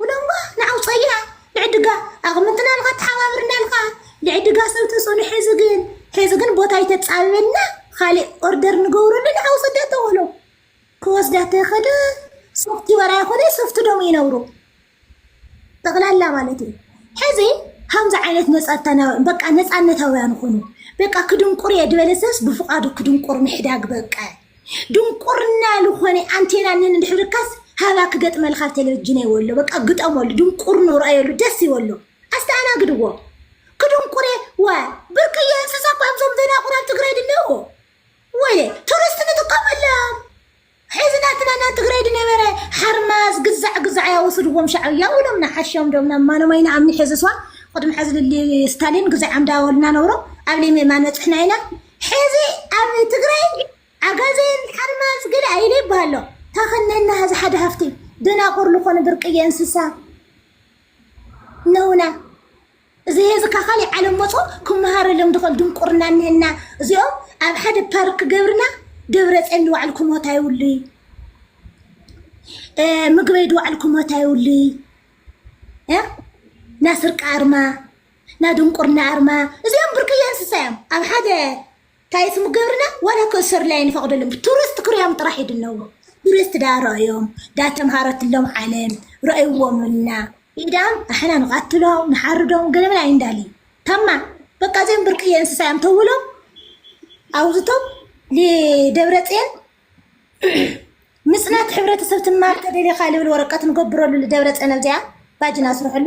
ውለንጓ ንዓውፀያ ልዕድጋ ኣቅምትና ልካ ተሓባብርና ልካ ልዕድጋ ሰብ ተፅዕኖ ሐዚ ግን ሐዚ ግን ቦታ ይተፃበበልና ካሊእ ኦርደር ንገብረሉ ንዓውፀዳ ተወሎ ክወስዳ ተኸደ ሶፍቲ ወራ ይኮነ ሶፍቲ ዶም ይነብሩ ጠቅላላ ማለት እዩ ሕዚ ከምዚ ዓይነት ነፃታና በቃ ነፃነታውያን ኹኑ በቃ ክድንቁር እየ ዝበለ ሰብስ ብፍቃዱ ክድንቁር ምሕዳግ በቃ ድንቁርና ልኾነ ኣንቴና ንን እንድሕርካስ ሃባ ክገጥመልካ ኣብ ቴሌቪጅን ይወሎ በቃ ግጠመሉ ድንቁርንኡ ርኣየሉ ደስ ይበሎ ኣስተኣናግድዎ ክድንቁሬ ወ ብርቅየ እንስሳ እኮ እዮም እዞም ደናቁር ኣብ ትግራይ ድለው ወየ ቱሪስት ንጥቀመሎም ሕዚ ናትና ናብ ትግራይ ድነበረ ሓርማዝ ግዛዕ ግዛዕ እያ ወስድዎም ሻዕብያ ውሎም ንሓሾም ዶም ናብ ማነማይ ንኣምኒ ሕዝስዋ ቅድሚ ሕዚ ልሊ ስታሊን ግዜ ዓምዳ ወልና ነብሮ ኣብ ለይሜ ማን በፅሕና ኢና ሕዚ ኣብ ትግራይ ዓጋዜን ሓርማዝ ገለ ኣይለ ይበሃሎ ታኸነና ሀዚ ሓደ ሃፍቲ ደናቁር ልኾኑ ብርቅየ እንስሳ ነውና እዚ ህዚ ካብ ካሊእ ዓለም መፁ ክመሃረሎም ድኽእል ድንቁርና እኒሀና እዚኦም ኣብ ሓደ ፓርክ ገብርና ደብረ ፅዮን ድባዕሉ ክሞት ኣይብሉ ምግበይ ድባዕሉ ክሞት ኣይብሉ ናስርቂ ኣርማ ናይ ድንቁርና ኣርማ እዚኦም ብርቅዬ እንስሳ እዮም ኣብ ሓደ ታይ ስሙ ገብርና ዋላ ክእሰሩላ ኣይንፈቅደሎም ብቱሪስት ክሪኦም ጥራሕ ይድነቡ ቱሪስት ዳ ረእዮም ዳ ተምሃረትሎም ዓለም ረእይዎምልና ኢዳም ኣሕና ንቀትሎም ንሓርዶም ገለመን ኣይንዳሊ ታማ በቃ እዚኦም ብርቅዬ እንስሳ እዮም ተውሎም ኣውዝቶም ንደብረፅዮን ምፅናት ሕብረተሰብ ትማር ተደሊኻ ልብል ወረቀት ንገብረሉ ልደብረፅዮን ኣብዚኣ ባጅና ስርሕሉ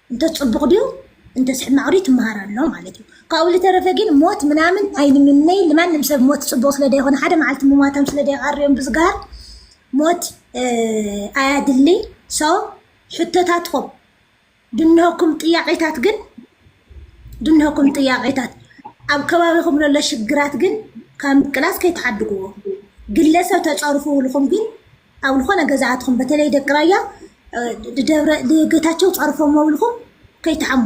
እንተ ጽቡቕ ድዩ እንተስ ሕማቕ ድዩ ትመሃር ኣሎ ማለት እዩ ካብኡ ዝተረፈ ግን ሞት ምናምን ኣይንምነይ ንማንም ሰብ ሞት ጽቡቕ ስለ ደይኮነ ሓደ መዓልቲ ምሟቶም ስለ ደይቐርዮም ብዝግሃር ሞት ኣያድሊ ሶ ሕቶታትኩም ድንሆኩም ጥያቄታት ግን ድንሆኩም ጥያቄታት ኣብ ከባቢኹም ዘሎ ሽግራት ግን ካብ ምቅላስ ከይተሓድግዎ ግለሰብ ተጸርፉ ውልኹም ግን ኣብ ልኾነ ገዛ ኣትኹም በተለይ ደቂ ራያ ደብረ ጌታቸው ጸርፎሞ ብልኹም ከይትሓሙ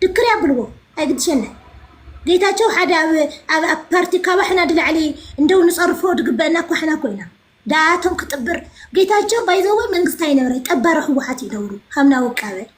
ድክር ያብልዎ ኣይግድሸና ጌታቸው ሓደ ኣብ ኣብ ኣብ ፓርቲ ካባሕና ድላዕሊ እንደው ንጸርፎ ድግበአና እኳ ሕና ኮይና ዳኣቶም ክጥብር ጌታቸው ባይዘወ መንግስቲ ኣይነበረ ጠባሪ ህወሓት እዩ ነብሩ ሃምና ውቃበ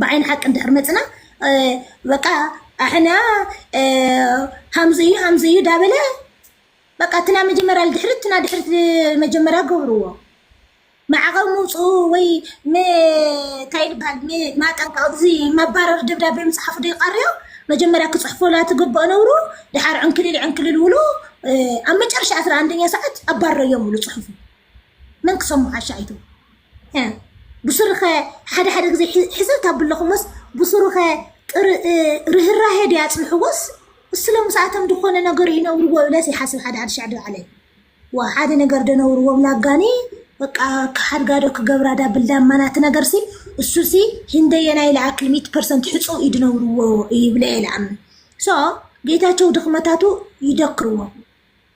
ብዓይኒ ሓቂ እንድሕር መፅና በቃ ኣሕና ሃምዚ እዩ ሃምዚ እዩ ዳበለ በቃ እትና መጀመርያ ልድሕሪ እትና ድሕሪ መጀመርያ ገብርዎ ማዕቐብ ምውፅኡ ወይ እንታይ ይበሃል ማጠንቀቕ እዚ መባረሪ ደብዳቤ ምፅሓፉ ዶ ይቐርዮ መጀመርያ ክፅሕፎላ ትግብኦ ነብሩ ድሓር ዕንክሊል ዕንክሊል ውሉ ኣብ መጨረሻ ኣስራ ኣንደኛ ሰዓት ኣባረዮም ውሉ ፅሑፉ መን ክሰሙ ዓሻ ኣይትብሉ ብሱሩኸ ሓደ ሓደ ግዜ ሕዝብ ታብለኹሞስ ብሱሩኸ ርህራሄ ድያ ጽንሕዎስ እስለ ምስኣቶም ዝኾነ ነገር ይነብርዎ ብለስ ይሓስብ ሓደ ሓደ ሻዕ ድባዕለይ ዋ ሓደ ነገር ደነብርዎ ላጋኒ በቃ ሓድጋዶ ክገብራ ዳ ብልዳ ማናት ነገር ሲ እሱ ሲ ህንደየናይ ለኣክል ሚት ፐርሰንት ሕጹ ይድነብርዎ ይብለ የለኣም ሶ ጌታቸው ድኽመታቱ ይደክርዎ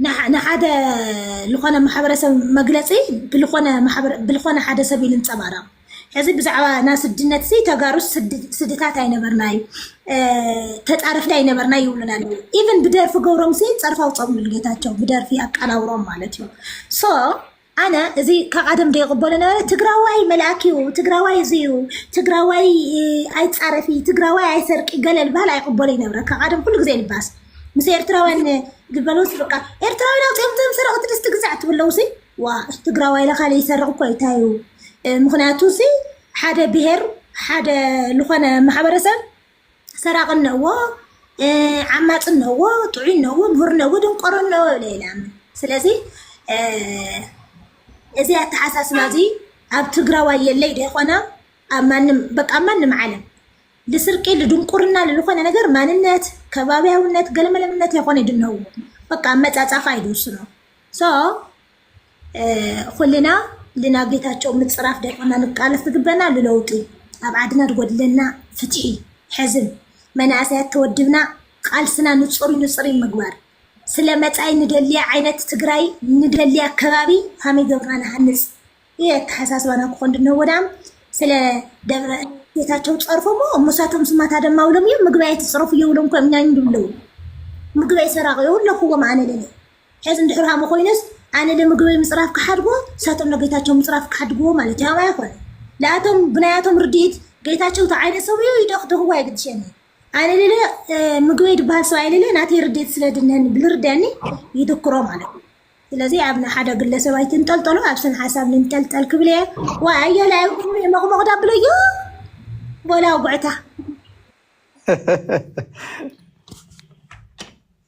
ንሓ- ንሓደ ልኾነ ማሕበረሰብ መግለጺ ብልኾነ ማሕበረ- ብልኾነ ሓደ ሰብ እዩ ልንጸባረቕ። ሕዚ ብዛዕባ ናይ ስድነት ሲ ተጋሩስ ስድ- ስድታት ኣይነበርናይ እ፣ ተጻረፍቲ ኣይነበርናይ ይብሉና ኣለዉ። ኢቭን ብደርፊ ገብሮም ሲ ጸርፋ ውጾም ንጌታቸው ብደርፊ ኣቃናብሮም ማለት እዩ። ሶ ኣነ እዚ ካብ ኣደም ዶ ይቕበሎ ነበረ ትግራዋይ መልኣክ እዩ ትግራዋይ እዚ እዩ ትግራዋይ ኣይፃረፊ ትግራዋይ ኣይሰርቂ ገለል ባህል ኣይቕበሎ ይነብረ ካብ ኣደም ኩሉ ግዜ ልባስ ምስ ኤርትራውያን ዝበለውስ በቃ ኤርትራውያን ኣውፅኦም ቶም ሰረቕቲ ድስ ትግዛዕ ትብለው ሲ ዋ ትግራዋይ ለካለ ይሰርቕ እኮ ይታዩ ምክንያቱ ሲ ሓደ ብሄር ሓደ ዝኾነ ማሕበረሰብ ሰራቂ እነዎ ዓማፂ እነዎ ጥዑይ እነዎ ምሁር እነዎ ድንቆሮ እነዎ ብለ ይላምን ስለዚ እዚ ኣተሓሳስባ እዚ ኣብ ትግራዋይ የለይ ደይኮነ ኣብ ማንም በቃ ማንም ዓለም ልስርቂ ልድንቁርና ልልኾነ ነገር ማንነት ከባቢያውነት ገለመለምነት የኾነ ድነው በቃ መፃፃፋ ይድርስኖ ሶ ኹልና ልና ጌታቸው ምፅራፍ ደርዕና ንቃለስ ዝግበና ልለውጢ ኣብ ዓድና ዝጎድለና ፍትሒ ሕዝም መናእሰያት ተወድብና ቃልስና ንፁሪ ንፅሪ ምግባር ስለ መፃኢ ንደልያ ዓይነት ትግራይ ንደልያ ከባቢ ከመይ ገብርና ንሃንፅ ይህ አተሐሳስባና ክኾን ድነው ወዳም ስለ ደብረ ጌታቸው ጸርፎሞ እሙሳቶም ስማታ ደማ ውሎም እዮም ምግባይ ትጽረፉ የውሎም ኮምኛኝ ድብለው ምግባይ ሰራቂ የውለኹዎም ኣነ ለለ ሐዚ እንድሕር ከምኡ ኮይኑስ ኣነ ንምግበይ ምፅራፍ ክሓድጎ ሳቶም ንጌታቸው ምፅራፍ ክሓድግዎ ማለት እዩ ኣባይ ኮነ ለኣቶም ብናያቶም ርድኢት ጌታቸው ተዓይነ ሰብ እዩ ይደኽድኽዎ ኣይግድሸኒ ኣነ ልለ ምግበይ ድበሃል ሰብኣይ ልለ ናተይ ርድኢት ስለ ድነኒ ብልርደኒ ይድክሮ ማለት እዩ ስለዚ ኣብ ናይ ሓደ ግለሰብ ኣይትንጠልጠሉ ኣብ ስን ሓሳብ ንንጠልጠል ክብል እየ ዋ ኣያለ ኣይኩኑ የመቕመቕዳ ብለዮ ቦላ ጉዕታ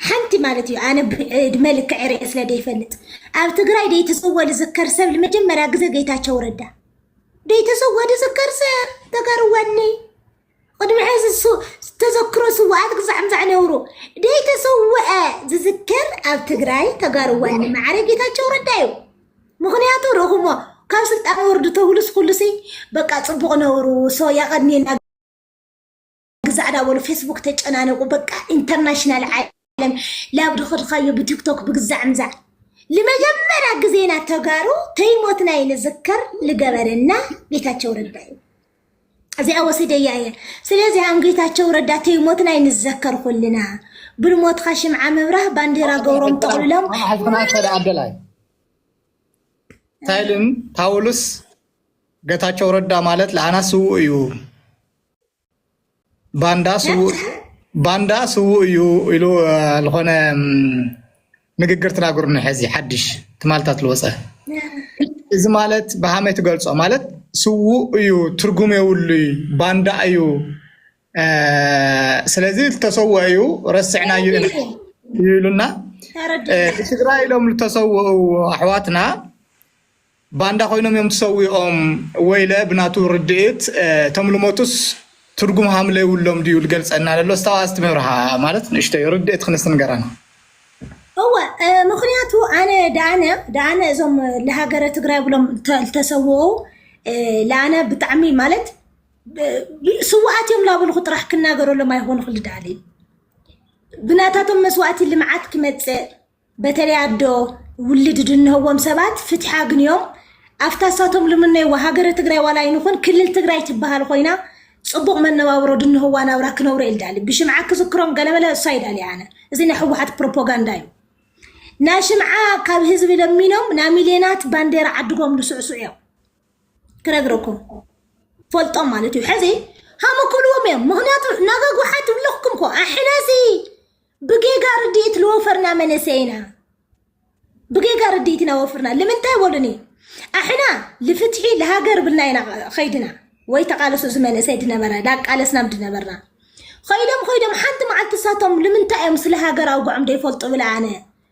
ሓንቲ ማለት እዩ ኣነ ዕድመ ልክዕ ርኤ ስለ ደይፈልጥ ኣብ ትግራይ ደይተሰወ ዝዝከር ሰብ ንመጀመርያ ግዜ ጌታቸው ረዳ ደይተሰወ ዝዝከር ሰብ ተጋርዋኒ ቅድሚ ሕዚ ተዘክሮ ስዋኣት ግዛዕም ዛዕነብሩ ደይተሰወአ ዝዝከር ኣብ ትግራይ ተጋርዋኒ ማዕረ ጌታቸው ረዳ እዩ ምክንያቱ ረኹሞ ካብ ስልጣን ወርዱ ተብሉስ ኩሉሲ በቃ ፅቡቅ ነብሩ ሶ ያቀድሜና ግዛዕ ዳ በሉ ፌስቡክ ተጨናነቁ በቃ ኢንተርናሽናል ዓለም ላብ ድኸድኻዮ ብቲክቶክ ብግዛዕ ምዛዕ ንመጀመሪያ ግዜና ተጋሩ ተይሞትና ንዝከር ልገበረና ጌታቸው ረዳ እዩ እዚኣ ወሲደያ እየ ስለዚ ኣም ጌታቸው ረዳ ተይሞትና ንዘከር ኩልና ብልሞትካ ሽምዓ ምብራህ ባንዴራ ገብሮም ጠቕልሎም መዓልትና ሰደ ኣደላይ ታይልን ፓውሉስ ገታቸው ረዳ ማለት ለኣና ስውእ እዩ ባንዳ ስውእ ባንዳ ስውእ እዩ ኢሉ ዝኾነ ንግግር ተናግሩኒ ሕዚ ሓድሽ ትማልታት ዝወፀ እዚ ማለት ብሃመይ ትገልፆ ማለት ስውእ እዩ ትርጉም የብሉ ባንዳ እዩ ስለዚ ዝተሰወ እዩ ረስዕና እዩ ይብሉና ትግራይ ኢሎም ዝተሰወኡ ኣሕዋትና ባንዳ ኮይኖም እዮም ትሰዊኦም ወይለ ብናቱ ርድኢት እቶም ልሞቱስ ትርጉም ሃምለ ይውሎም ድዩ ልገልጸና ለሎ እስታዋ እስቲ ምብርሃ ማለት ንእሽቶይ ርድእት ክንስ ንገረና። እወ ምክንያቱ ኣነ ዳኣነ ዳኣነ እዞም ልሃገረ ትግራይ ብሎም ልተሰውኡ ልኣነ ብጣዕሚ ማለት ስዋኣት እዮም ላበልኩ ጥራሕ ክናገረሎም ኣይኮንኩ ልዳሊ ብናታቶም መስዋእቲ ልምዓት ክመፅእ በተለይ ኣዶ ውልድ ድንህዎም ሰባት ፍትሒ ኣግንዮም ኣብታ ሳቶም ልምነይዋ ሃገረ ትግራይ ዋላ ይንኹን ክልል ትግራይ ትበሃል ኮይና ፅቡቕ መነባብሮ ድንህዋ ናብራ ክነብሮ ኢል ዳሊ ብሽምዓ ክዝክሮም ገለመለ እሷ ይዳሊ ኣነ እዚ ናይ ሕወሓት ፕሮፓጋንዳ እዩ ናይ ሽምዓ ካብ ህዝቢ ለሚኖም ናይ ሚልዮናት ባንዴራ ዓድጎም ዝስዕስዑ እዮም ክነግረኩም ፈልጦም ማለት እዩ ሕዚ ሃመ ክብልዎም እዮም ምክንያቱ ናጋ ጉሓት ይብለኩም ኮ ኣሕናሲ ብጌጋ ርድኢት ልወፈርና መንእሰይ ኢና ብጌጋ ርድኢት ኢና ወፍርና ልምንታይ ወሉኒ ኣሕና ልፍትሒ ልሃገር ብልና ኢና ኸይድና ወይ ተቃለሱ እዚ መንእሰይ ድነበረ ዳቃለስናም ድነበርና ኸይዶም ኸይዶም ሓንቲ መዓልቲ ሳቶም ልምንታይ እዮም ስለ ሃገር ኣውግዖም ደይፈልጡ ብላ ኣነ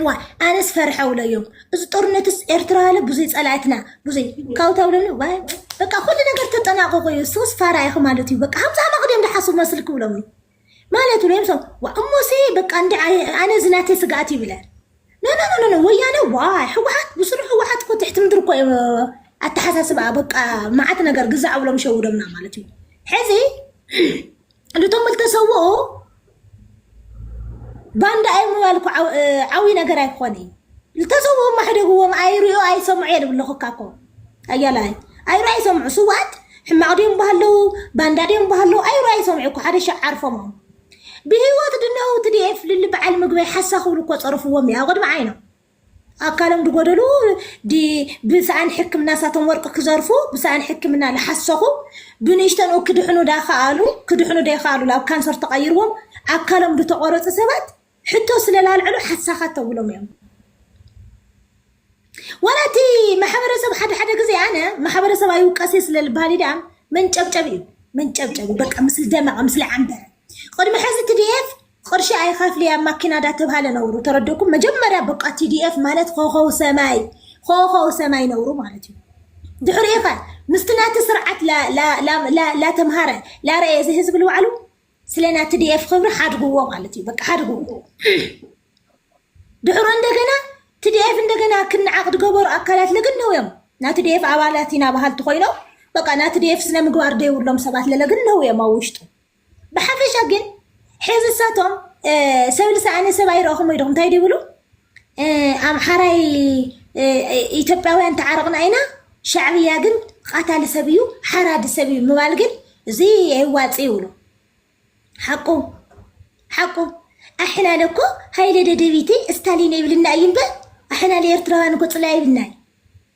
እዋ ኣነስ ፈርሐው ለዮም እዚ ጦርነትስ ኤርትራ ያለ ብዙይ ጸላይትና ብዙይ ካብኡ ተብለኒ ዋይ በቃ ኩሉ ነገር ተጠናቀቁ እዩ ሶስ ፋራ ኢኹ ማለት እዩ በቃ ሃምሳ መቅደም ድሓሱ መስል ክብሎም እዩ ማለት ብሎም ሰው ዋ እሞሴ በቃ እንዲ ኣነ እዚ ናተይ ስግኣት ይብለ ኖኖኖኖ ወያነ ዋይ ህወሓት ብስሩ ህወሓት እኮ ትሕቲ ምድሪ እኮ እዩ ኣተሓሳስባ በቃ መዓት ነገር ግዛዕ ብሎም ሸውዶምና ማለት እዩ ሕዚ እቶም ዝተሰውኡ ባንዳ ኣይ ምባል እኮ ዓው- እ፣ ዓብዪ ነገር ኣይኮነ እዩ ዝተሰውኡ ማሕደግዎም ኣይሪኦ ኣይሰምዑ እየ ዝብል ኣለኹ እካ እኮ ኣያላይ ኣይሮ ኣይሰምዑ ስውኣት ሕማቕ ድዮም ባህለው ባንዳ ድዮም ባህለው ኣይሮ ኣይሰምዑ እኮ ሓደ ሻዕ ዓርፎሞም ብህይወት ድነው ትዲኤፍ ልሊ በዓል ምግበይ ሓሳ ክብሉ እኮ ፀርፍዎም እዩ ኣብ ቅድሚ ዓይኖም ኣካሎም ድጎደሉ ዲ ብሳኣን ሕክምና ሳቶም ወርቂ ክዘርፉ ብሳኣን ሕክምና ልሓሰኹ ብንእሽተንኡ ክድሕኑ ዳኸኣሉ ክድሕኑ ደይኸኣሉ ላብ ካንሰር ተቐይርዎም ኣካሎም ድተቆረጹ ሰባት ሕቶ ስለላልዕሉ ሓሳኻት ተብሎም እዮም ወላ እቲ ማሕበረሰብ ሓደ ሓደ ግዜ ኣነ ማሕበረሰብ ኣይውቀሴ ስለ ልበሃል ድኣ መንጨብጨቢ እዩ መንጨብጨቢ በቃ ምስሊ ደመቐ ምስሊ ዓንበረ ቅድሚ ሕዚ ትድኤፍ ቕርሺ ኣይከፍል እያ ማኪና ዳተብሃለ ነውሩ ተረድእኩም መጀመርያ በቃ ቲዲኤፍ ማለት ኾኾው ሰማይ ኾኾው ሰማይ ነውሩ ማለት እዩ ድሕሪኡ ኸ ምስቲ ናቲ ስርዓት ላተምሃረ ላረእየ እዚ ህዝቢ ልባዕሉ ስለ ናይ ቲዲኤፍ ክብሪ ሓድግዎ ማለት እዩ በቃ ሓድግዎ ድሕሮ እንደገና ትዲኤፍ እንደገና ክነዓቕ ድገበሩ ኣካላት ለግነው እዮም ናይ ትዲኤፍ ኣባላት ኢና በሃልቲ ኮይኖም በቃ ናይ ትዲኤፍ ስነ ምግባር ደይብሎም ሰባት ለለግነው እዮም ኣብ ውሽጡ ብሓፈሻ ግን ሕዚ እሳቶም ሰብል ሰኣነ ሰብ ኣይረእኹም ወይ ዶኹም እንታይ ድብሉ ኣምሓራይ ኢትዮጵያውያን ተዓረቕና ኢና ሻዕብያ ግን ቃታሊ ሰብ እዩ ሓራዲ ሰብ እዩ ምባል ግን እዚ ኣይዋፅ ይብሉ ሓቁ ሓቁ ኣሕና ለኮ ሃይለ ደደቢቲ እስታሊን ይብልና እዩ እምበር ኣሕና ለኤርትራውያን እኮ ፅላይ ይብልና እዩ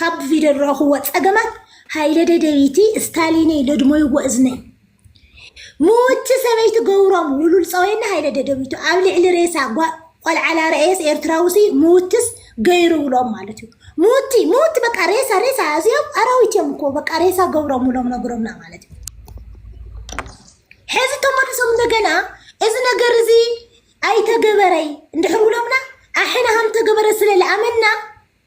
ካብ ቪድዮ ዝረእኹዎ ጸገማት ሃይለ ደደቢቲ ስታሊነይ ለድሞይዎ እዝነይ ምውቲ ሰበይቲ ገብሮም ውሉል ጸወይና ሃይለ ደደቢቱ ኣብ ልዕሊ ሬሳ ቆልዓላ ረእየስ ኤርትራውሲ ምውትስ ገይሩ ውሎም ማለት እዩ ምውቲ ምውቲ በቃ ሬሳ ሬሳ እዚኦም ኣራዊት እዮም እኮ በቃ ሬሳ ገብሮም ውሎም ነግሮምና ማለት እዩ ሕዚ ተመልሶም እንደገና እዚ ነገር እዚ ኣይተገበረይ እንድሕር ውሎምና ኣሕና ሃም ተገበረ ስለ ዝኣመና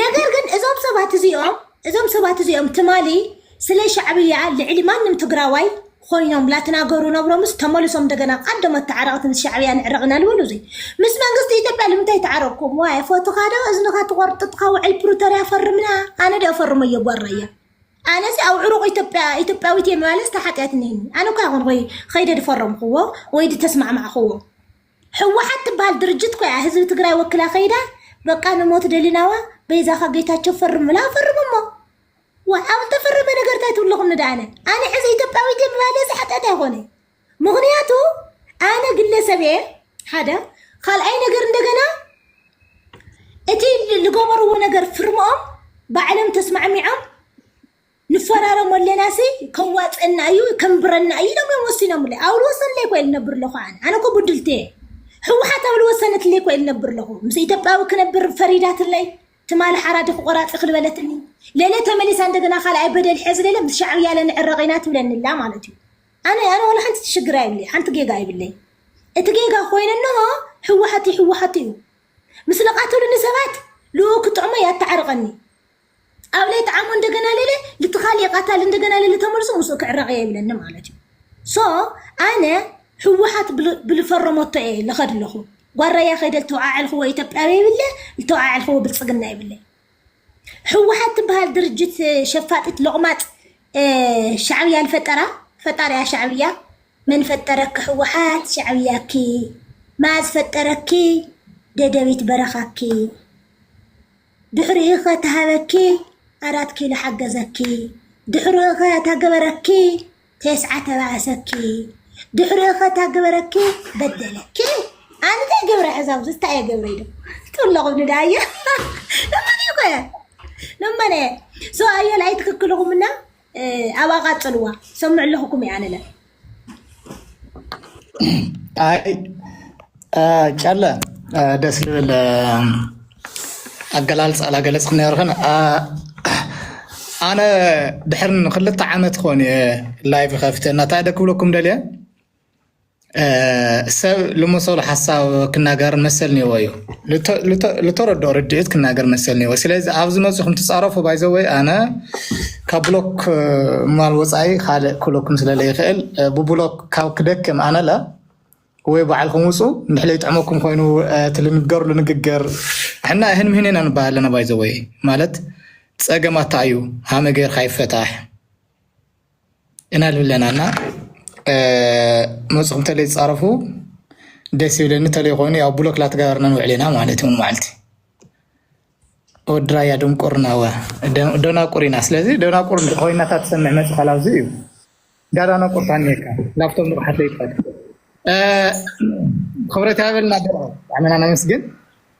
ነገር ግን እዞም ሰባት እዚኦም እዞም ሰባት እዚኦም ትማሊ ስለ ሻዕብያ ልዕሊ ማንም ትግራዋይ ኮይኖም ላተናገሩ ነብሮምስ ተመልሶም እንደገና ቀደሞት ተዓረቕቲ ምስ ሻዕብያ ንዕረቕና ልበሉ እዙይ ምስ መንግስቲ ኢትዮጵያ ልምንታይ ተዓረቕኩም ዋይ ፎቶኻ ዶ እዝንኻ ትቆርጥጥካ ውዕል ፕሪቶሪያ ፈርምና ኣነ ዶ ፈርመዮ ጓራያ ኣነዚ ኣብ ዕሩቕ ኢትዮጵያ ኢትዮጵያዊት እየ ምባለስ ተሓጢኣትኒ ኣነ እኳ ይኹን ወይ ከይደ ድፈረምክዎ ወይ ድተስማዕማዕክዎ ሕወሓት ትበሃል ድርጅት እኮ እያ ህዝቢ ትግራይ ወኪላ ከይዳ በቃ ንሞት ደሊናዋ በይዛኻ ጌታቸው ፈርም ኢላ ፈርሙ እሞ ዋ ኣብ ዝተፈረመ ነገር እንታይ ትብልኹም ንደኣነ ኣነ ሕዚ ኢትዮጵያዊት እየ ምባለ ዝሓጢኣት ኣይኮነ ምክንያቱ ኣነ ግለሰብ እየ ሓደ ካልኣይ ነገር እንደገና እቲ ዝገበርዎ ነገር ፍርምኦም ባዕሎም ተስማዕሚዖም ንፈራረሞ ኣለናሲ ከዋፀና እዩ ከንብረና እዩ ኢሎም እዮም ወሲኖምለይ ኣብ ልወሰንለይ ኮ ልነብር ኣለኹ ኣነ ኣነ ኮ ብድልቲ እየ ህወሓት ኣብ ልወሰነትለይ ኮ ልነብር ኣለኹ ምስ ኢትዮጵያዊ ክነብር ፈሪዳትለይ ትማሊ ሓራዲ ክቆራፂ ክልበለትኒ ሌለ ተመሊሳ እንደገና ካልኣይ በደል ሕዚ ሌለ ምስ ሻዕብያ ለንዕረቕ ኢና ትብለኒላ ማለት እዩ ኣነ ኣነ ዋላ ሓንቲ ትሽግር ኣይብለይ ሓንቲ ጌጋ ኣይብለይ እቲ ጌጋ ኮይነ እንሆ ህወሓት ህወሓት እዩ ምስ ለቃተሉኒ ሰባት ልኡ ክጥዕሞ ያተዓርቐኒ ኣብ ለይቲ ዓሞ እንደገና ለለ ልትኻል የቃታል እንደገና ለለ ተመልሶ ምስኡ ክዕረቕ እየ ይብለኒ ማለት እዩ ሶ ኣነ ህወሓት ብል- ብልፈረመቶ እየ ልኸድ ኣለኹ ጓራያ ከይደ ልተወዓዕልኽዎ ኢትዮጵያዊ ይብለ ልተወዓዕልኽዎ ብልፅግና ይብለ ህወሓት ትበሃል ድርጅት እ፣ ሸፋጢት ሎቕማፅ እ፣ ሻዕብያ ልፈጠራ ፈጣሪያ ሻዕብያ መን ፈጠረኪ ህወሓት ሻዕብያኪ መዓዝ ፈጠረኪ ደደቢት በረኻኪ ድሕሪኡ ከ ተሃበኪ ኣራት ኪሎ ሓገዘኪ ድሕሪኡ ከ እታ ገበረኪ ቴስዓ ተባኣሰኪ ድሕሪኡ ከ እታ ገበረኪ በደለኪ ኣነ እንታይ ገብረ ሕዚ ኣብዚ እንታይ እየ ገብረ ኢሉ ጥለቑኒ ዳየ እመን እየ ኮየ እመን እየ ሰው ኣየል ኣይትክክልኹምና ኣብኣ ቃጽልዋ ሰምዕ ኣለኹኩም እየ ኣነለ ኣይ ጨለ ደስ ዝብል ኣገላልፃ ላገለፅክ ነርክን ኣነ ድሕር ንክልተ ዓመት ክኾን እየ ላይፍ ከፍተ እናታይ ደ ክብለኩም ደልየ ሰብ ልመሰሉ ሓሳብ ክናገር መሰል ኒዎ እዩ ልተረድኦ ርድኢት ክናገር መሰል ኒዎ ስለዚ ኣብዚ መፅኹም ትፃረፉ ባይዘወይ ኣነ ካብ ብሎክ ማል ወፃኢ ካልእ ክብለኩም ስለለ ይኽእል ብብሎክ ካብ ክደክም ኣነለ ወይ ባዕልኩም ውፁ ንሕለ ይጥዕመኩም ኮይኑ ትልንገርሉ ንግግር ሕና ይህን ምህን ኢና ንበሃል ኣለና ባይዘወይ ማለት ፀገማታ እዩ ሃመ ገይርካ ይፈታሕ እና ልብለና እና መፅኹም ተለይ ፃረፉ ደስ ይብለኒ ተለይ ኮይኑ ያው ብሎክ ላተገበርና ንውዕሌና ማለት እውን መዓልቲ ወድራያ ድንቁርና ወ ደናቁር ኢና ስለዚ ደናቁር ኮይና እታ ትሰምዕ መፅኻል ኣብዚ እዩ ዳዳናቁር ታኒካ ላብቶም ንቕሓት ዘይትፈል ክብረት ያበልና ብጣዕሚና ነመስግን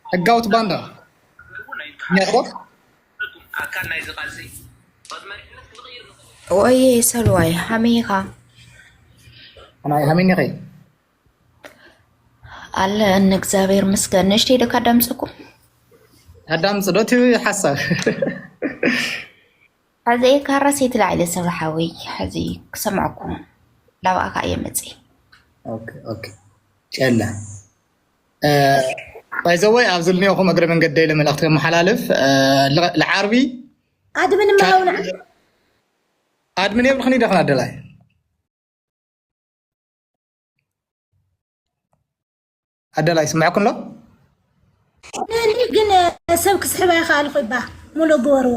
ሕጋውት ባንዳ ኛ ኣካል ናይዚ ቃልሲ እዩ። ብ መሪሕነት ክንቕይር ንኽእል ኢና። ወየ ሰሉዋይ ሀመይ ኢኻ ኣናይ ሃሚኒ ኸይ ኣለ እነ እግዚኣብሔር ምስገን ንእሽተይ ዶ ካዳምፀኩም ኣዳምፅ ዶ እቲ ሓሳብ ሕዚ ካራ ሴት ላዕለ ሰብ ሓወይ ሕዚ ክሰምዐኩም ላብኣኻ እየ መፅእ ኦኬ ኦኬ ጨላ ባይዘወይ ኣብዚ ልኒኦኹም እግረ መንገደይ ለመልእኽቲ ከመሓላልፍ ልዓርቢ ኣድምን ማሃውና ኣድምን የብልኽን ይደኽና ደላይ ኣደላይ ስምዐኩም ኣሎ ግን ሰብ ክስሕባ ይኸኣልኹ ይባ ሙሉእ ግበርዎ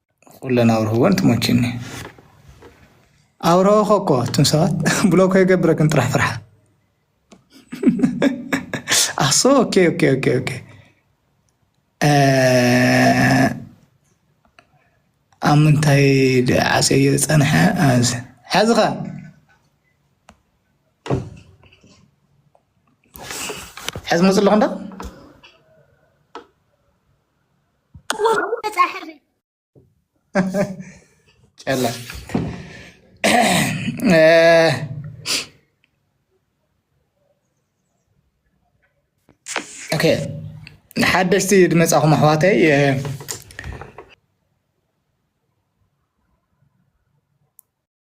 ኩለን ኣብርህወን ትሞችኒ ኣብረኸ እኮ እቱም ሰባት ብሎኮ የገብረክን ጥራሕ ፍርሓ ኣሶ ኦኬ ኦኬ ኦኬ ኦኬ ኣብ ምንታይ ዓሰዮ ዝፀንሐ ሓዝኻ ሕዚ መፅእ ኣለኹ እንዳ ጨላ ኦኬ ሓደሽቲ ድመፃኹም ኣሕዋተይ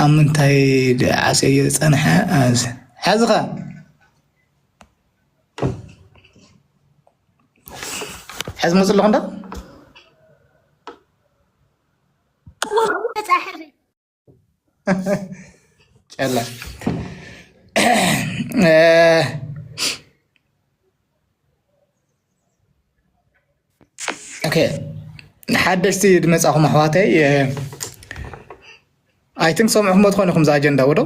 ኣብ ምንታይ ድኣ ዓስየዮ ዝጸንሐ ኣንስ ሓዝኻ። ሕዚ መጽእ ኣለኹ እንዳ ጨላ ኦኬ ሓደሽቲ ዝመጻኹም ኣሕዋተይ ኣይ ቲንክ ሰምዕኹሞ ትኾኑ ኢኹም ዛ ኣጀንዳ ወዶ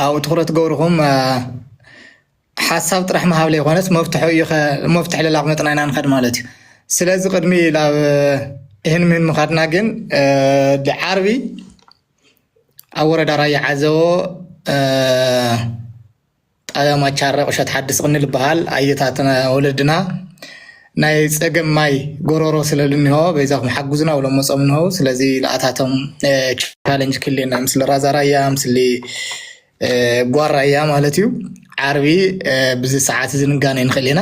ኣብኡ ትኩረት ገብርኹም ሓሳብ ጥራሕ ምሃብ ዘይኮነስ መፍትሒ እዩ መፍትሒ ለላቕ መጥና ኢና ንኸድ ማለት እዩ ስለዚ ቅድሚ ናብ ይህን ምህን ምኻድና ግን ዓርቢ ኣብ ወረዳ ራያ ዓዘቦ ጣብያ ማቻረ ቁሸት ሓዲ ስቅኒ ልበሃል ኣየታትና ወለድና ናይ ፀገም ማይ ጎሮሮ ስለልኒሆ በይዛኩም ሓጉዝና ውሎም መፆም ንሆው ስለዚ ልኣታቶም ቻለንጅ ክሌና ምስሊ ራዛ ራያ ምስሊ ጓር ራያ ማለት እዩ ዓርቢ ብዚ ሰዓት እዚ ንጋነ ንክእል ኢና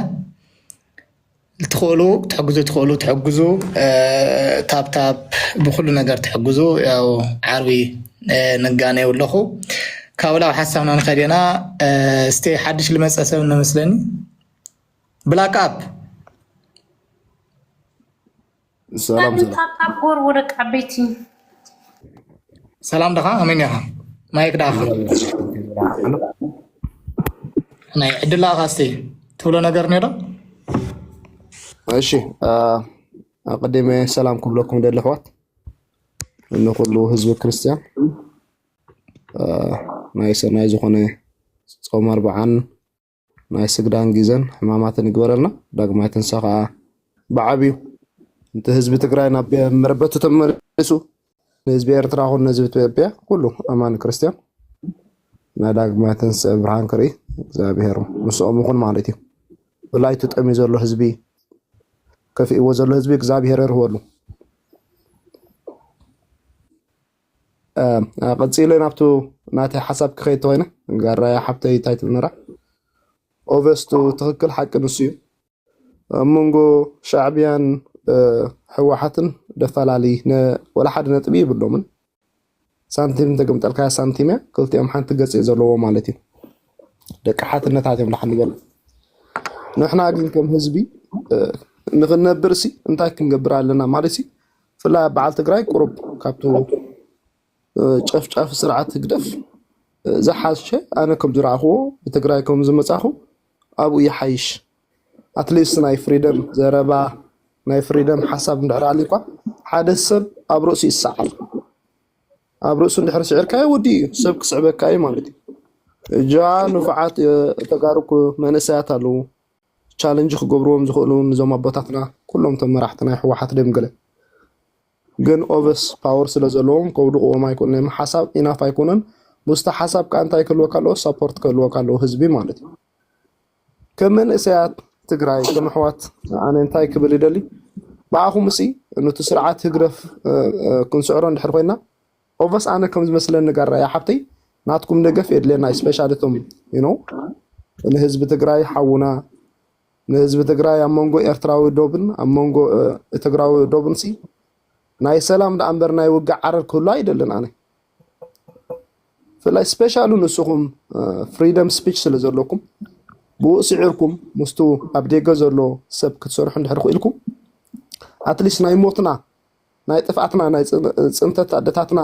ትክእሉ ክትሕግዙ ትክእሉ ትሕግዙ ታብታብ ብኩሉ ነገር ትሕግዙ ያው ዓርቢ ንጋነ ኣለኹ ካብ ላብ ሓሳብና ንኸዴና እስቲ ሓድሽ ልመፀ ሰብ ነመስለኒ ብላክ ኣፕ ሰላም ሰላም ታብታብ ጎርቦ ደቂ ዓበይቲ ሰላም ደኻ ኣመን ኢኻ ማይክ ደኻ ናይ ዕድላ ካስቲ ትብሎ ነገር ኔዶ እሺ ኣቀዲመ ሰላም ክብለኩም ደሊ ኣሕዋት ንኩሉ ህዝቢ ክርስቲያን ናይ ሰናይ ዝኾነ ፆም ኣርባዓን ናይ ስግዳን ግዘን ሕማማትን ይግበረልና። ዳግማይ ትንሳ ከዓ ብዓብዩ እቲ ህዝቢ ትግራይ ናብ መረበቱ ተመሊሱ ንህዝቢ ኤርትራ ኹን ንህዝቢ ኢትዮጵያ ኩሉ ኣማኒ ክርስትያን ናይ ዳግማይ ትንስኤ ብርሃን ክርኢ እግዚኣብሄር ምስኦም ይኹን ማለት እዩ። ብላይ ተጠምዩ ዘሎ ህዝቢ ከፊእዎ ዘሎ ህዝቢ እግዚኣብሄር የርህወሉ። ቀፂለ ናብቱ ናተይ ሓሳብ ክኸይድ ተኮይነ ጋራያ ሓብተይ እንታይ ትብልነራ ኦቨስቱ ትክክል ሓቂ ንሱ እዩ ኣብ መንጎ ሻዕቢያን ሕወሓትን ደፈላለይ ወላ ሓደ ነጥቢ ይብሎምን ሳንቲም እንተገምጠልካያ ሳንቲም እያ ክልቲኦም ሓንቲ ገፅ እዩ ዘለዎ ማለት እዩ ደቂ ሓትነታት እዮም ዳሓን በሉ ንሕና ግን ከም ህዝቢ ንክነብር ሲ እንታይ ክንገብር ኣለና ማለት እዩ ብፍላይ ኣብ በዓል ትግራይ ቁሩብ ካብቱ ጨፍጫፊ ስርዓት ህግደፍ ዝሓሸ ኣነ ከም ዝረኣኽዎ ብትግራይ ከም ዝመፃኹ ኣብኡ ይሓይሽ ኣትሊስት ናይ ፍሪደም ዘረባ ናይ ፍሪደም ሓሳብ እንድሕር ኣልዩኳ ሓደ ሰብ ኣብ ርእሱ ይሰዓር ኣብ ርእሱ እንድሕር ስዒርካዮ ወዲ እዩ ሰብ ክስዕበካ እዩ ማለት እዩ እጃ ንፉዓት ተጋሩ መንእሰያት ኣለዉ ቻለንጅ ክገብርዎም ዝኽእሉ እውን ንዞም ኣቦታትና ኩሎም እቶም መራሕቲ ናይ ህወሓት ድዮም ገለ ግን ኦቨስ ፓወር ስለ ዘለዎም ከውድቕዎም ኣይክእሉ ናይ ሓሳብ ኢናፍ ኣይኮነን ምስቲ ሓሳብ ከዓ እንታይ ክህልወካ ኣለዎ ሰፖርት ክህልወካ ኣለዎ ህዝቢ ማለት እዩ ከም መንእሰያት ትግራይ ከም ኣሕዋት ኣነ እንታይ ክብል ይደሊ ብኣኹም እሲ ኑቲ ስርዓት ህግደፍ ክንስዕሮ እንድሕር ኮይና ኦቨስ ኣነ ከም ዝመስለኒ ጋራ እያ ሓብተይ ናትኩም ደገፍ የድልየና ስፔሻሊ እቶም ዩኖ ንህዝቢ ትግራይ ሓውና ንህዝቢ ትግራይ ኣብ መንጎ ኤርትራዊ ዶብን ኣብ መንጎ ትግራዊ ዶብን ሲ ናይ ሰላም ደኣ እምበር ናይ ውግእ ዓረር ክህሉ ኣይደልን ኣነ ብፍላይ ስፔሻሉ ንስኹም ፍሪደም ስፒች ስለ ዘለኩም ብኡ ስዒርኩም ምስቱ ኣብ ደገ ዘሎ ሰብ ክትሰርሑ እንድሕር ክኢልኩም ኣትሊስት ናይ ሞትና ናይ ጥፍኣትና ናይ ፅንተት ኣደታትና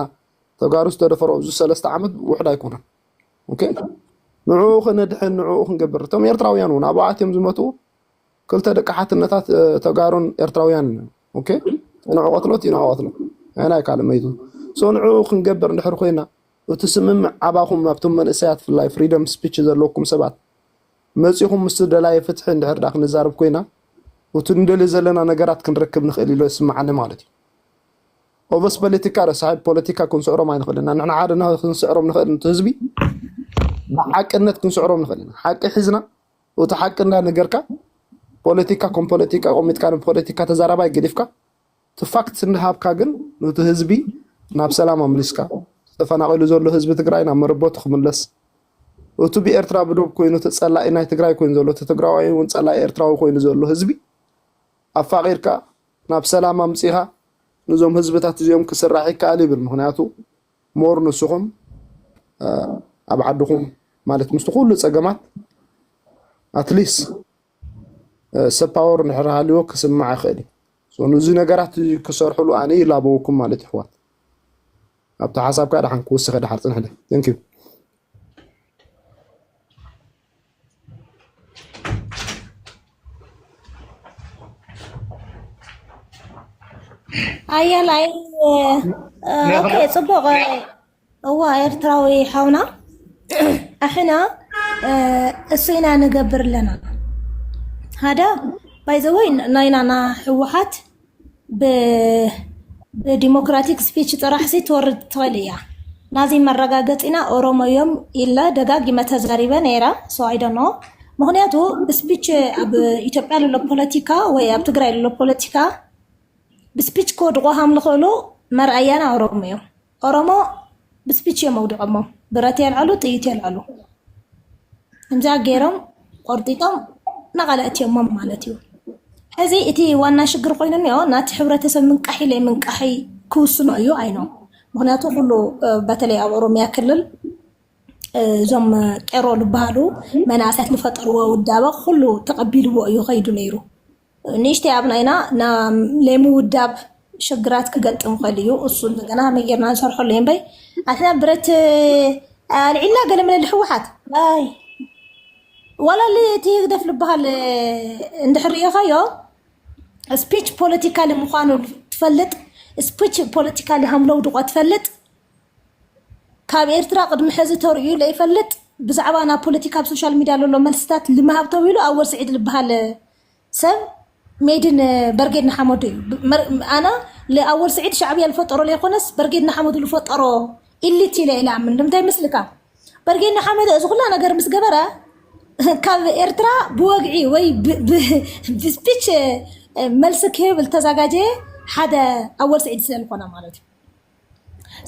ተጋሩ ዝተደፈሮ እዚ ሰለስተ ዓመት ውሕድ ኣይኮነን ኦኬ ንዕኡ ክነድሕን ንዕኡ ክንገብር እቶም ኤርትራውያን እውን ኣብ ኣትዮም ዝመቱ ክልተ ደቂ ሓትነታት ተጋሩን ኤርትራውያን ኦኬ ንዑ ቀትሎ እቲ ንዑ ቀትሎ ናይ ካልእ መይቱ ሶ ንዕኡ ክንገብር እንድሕር ኮይና እቲ ስምምዕ ኣባኹም ኣብቶም መንእሰያት ፍላይ ፍሪደም ስፒች ዘለኩም ሰባት መጺኹም ምስ ዝደላየ ፍትሒ እንድሕር ድኣ ክንዛረብ ኮይና ኡቲ ንደልዮ ዘለና ነገራት ክንረክብ ንኽእል ኢሎ ይስምዓኒ ማለት እዩ። ኦቨስ ፓለቲካ ረሳሒ ፖለቲካ ክንስዕሮም ኣይንኽእልን ኢና ንሕና ሓደ ክንስዕሮም ንኽእል ንቲ ህዝቢ ብሓቅነት ክንስዕሮም ንኽእል ኢና ሓቂ ሒዝና ኡቲ ሓቂ እንዳ ነገርካ ፖለቲካ ኮም ፖለቲካ ቆሚጥካ ፖለቲካ ተዛራባይ ገዲፍካ እቲ ፋክት እናሃብካ ግን ኑቲ ህዝቢ ናብ ሰላም ኣምሊስካ፣ እቲ ተፈናቂሉ ዘሎ ህዝቢ ትግራይ ናብ መረበቱ ክምለስ፣ እቱ ብኤርትራ ብዶብ ኮይኑ እቲ ፀላኢ ናይ ትግራይ ኮይኑ ዘሎ እቲ ትግራዋይ እውን ፀላኢ ኤርትራዊ ኮይኑ ዘሎ ህዝቢ ኣፋቂርካ ናብ ሰላም ኣምፂኻ ንዞም ህዝብታት እዚኦም ክስራሕ ይከኣል ይብል ምክንያቱ ሞር ንስኹም ኣብ ዓድኹም ማለት ምስቲ ኩሉ ፀገማት ኣትሊስ ሰብ ፓወር እንድሕር ሃልዎ ክስማዕ ይኽእል እዩ። ሶ ንዚ ነገራት ክሰርሕሉ ኣነ ይላበወኩም ማለት እዩ ኣሕዋት። ኣብቲ ሓሳብካ ድሓን ክውስኸ ድሓር ጽንሕለ ቴንክ ዩ ኣየላይ ኦኬ ጽቡቕ እዋ ኤርትራዊ ሓውና ኣሕና እሱ ኢና ንገብር ኣለና ሃደ ባይዘወይ ናይና ና ህወሓት ብዲሞክራቲክ ስፒች ጥራሕሲ ትወርድ ትኽእል እያ ናዚ መረጋገፂና ኦሮሞ እዮም ኢለ ደጋጊመ ተዛሪበ ነይረ ሶ ኣይደኖ ምክንያቱ ብስፒች ኣብ ኢትዮጵያ ዘሎ ፖለቲካ ወይ ኣብ ትግራይ ዘሎ ፖለቲካ ብስፒች ክወድቑ ሃም ዝኽእሉ መርኣያና ኦሮሞ እዮም ኦሮሞ ብስፒች እዮም መውድቐሞ ብረት የልዕሉ ጥይት የልዕሉ ከምዚኣ ገይሮም ቆርጢጦም ናቓላእትዮሞም ማለት እዩ ሕዚ እቲ ዋና ሽግር ኮይኑ እኒኦ ናቲ ሕብረተሰብ ምንቃሒ ለይ ምንቃሒ ክውስኖ እዩ ኣይኖ ምክንያቱ ኩሉ በተለይ ኣብ ኦሮሚያ ክልል እዞም ቄሮ ዝበሃሉ መናእሰያት ዝፈጠርዎ ውዳበ ኩሉ ተቐቢልዎ እዩ ከይዱ ነይሩ ንእሽተይ ኣብ ናይና ናይ ምውዳብ ሽግራት ክገጥም ይኽእል እዩ። እሱ እንደገና ከመይ ጌርና ንሰርሐሉ እዩ እምበይ ኣትና ብረት ኣልዒልና ገለ መለ ልሕወሓት ኣይ ዋላ እቲ ህግደፍ ዝበሃል እንድሕር ሪኢኻዮ ስፒች ፖለቲካሊ ምዃኑ ትፈልጥ ስፒች ፖለቲካሊ ሃምለው ድቋ ትፈልጥ ካብ ኤርትራ ቅድሚ ሕዚ ተርእዩ ለይፈልጥ ብዛዕባ ናብ ፖለቲካ ኣብ ሶሻል ሚድያ ዘሎ መልስታት ልመሃብ ተብሂሉ ኣወል ስዒድ ዝበሃል ሰብ ሜድን በርጌድ ንሓመዱ እዩ ኣና ለኣወል ስዒድ ሻዕብያ ዝፈጠሮ ለይኮነስ በርጌድ ንሓመዱ ዝፈጠሮ ኢሊት ኢለ ኢለ ኣምን ንምንታይ ምስልካ በርጌድ ንሓመዱ እዚ ኩላ ነገር ምስ ገበረ ካብ ኤርትራ ብወግዒ ወይ ብስፒች መልሲ ክህብ ዝተዘጋጀየ ሓደ ኣወል ስዒድ ስለዝኮነ ማለት እዩ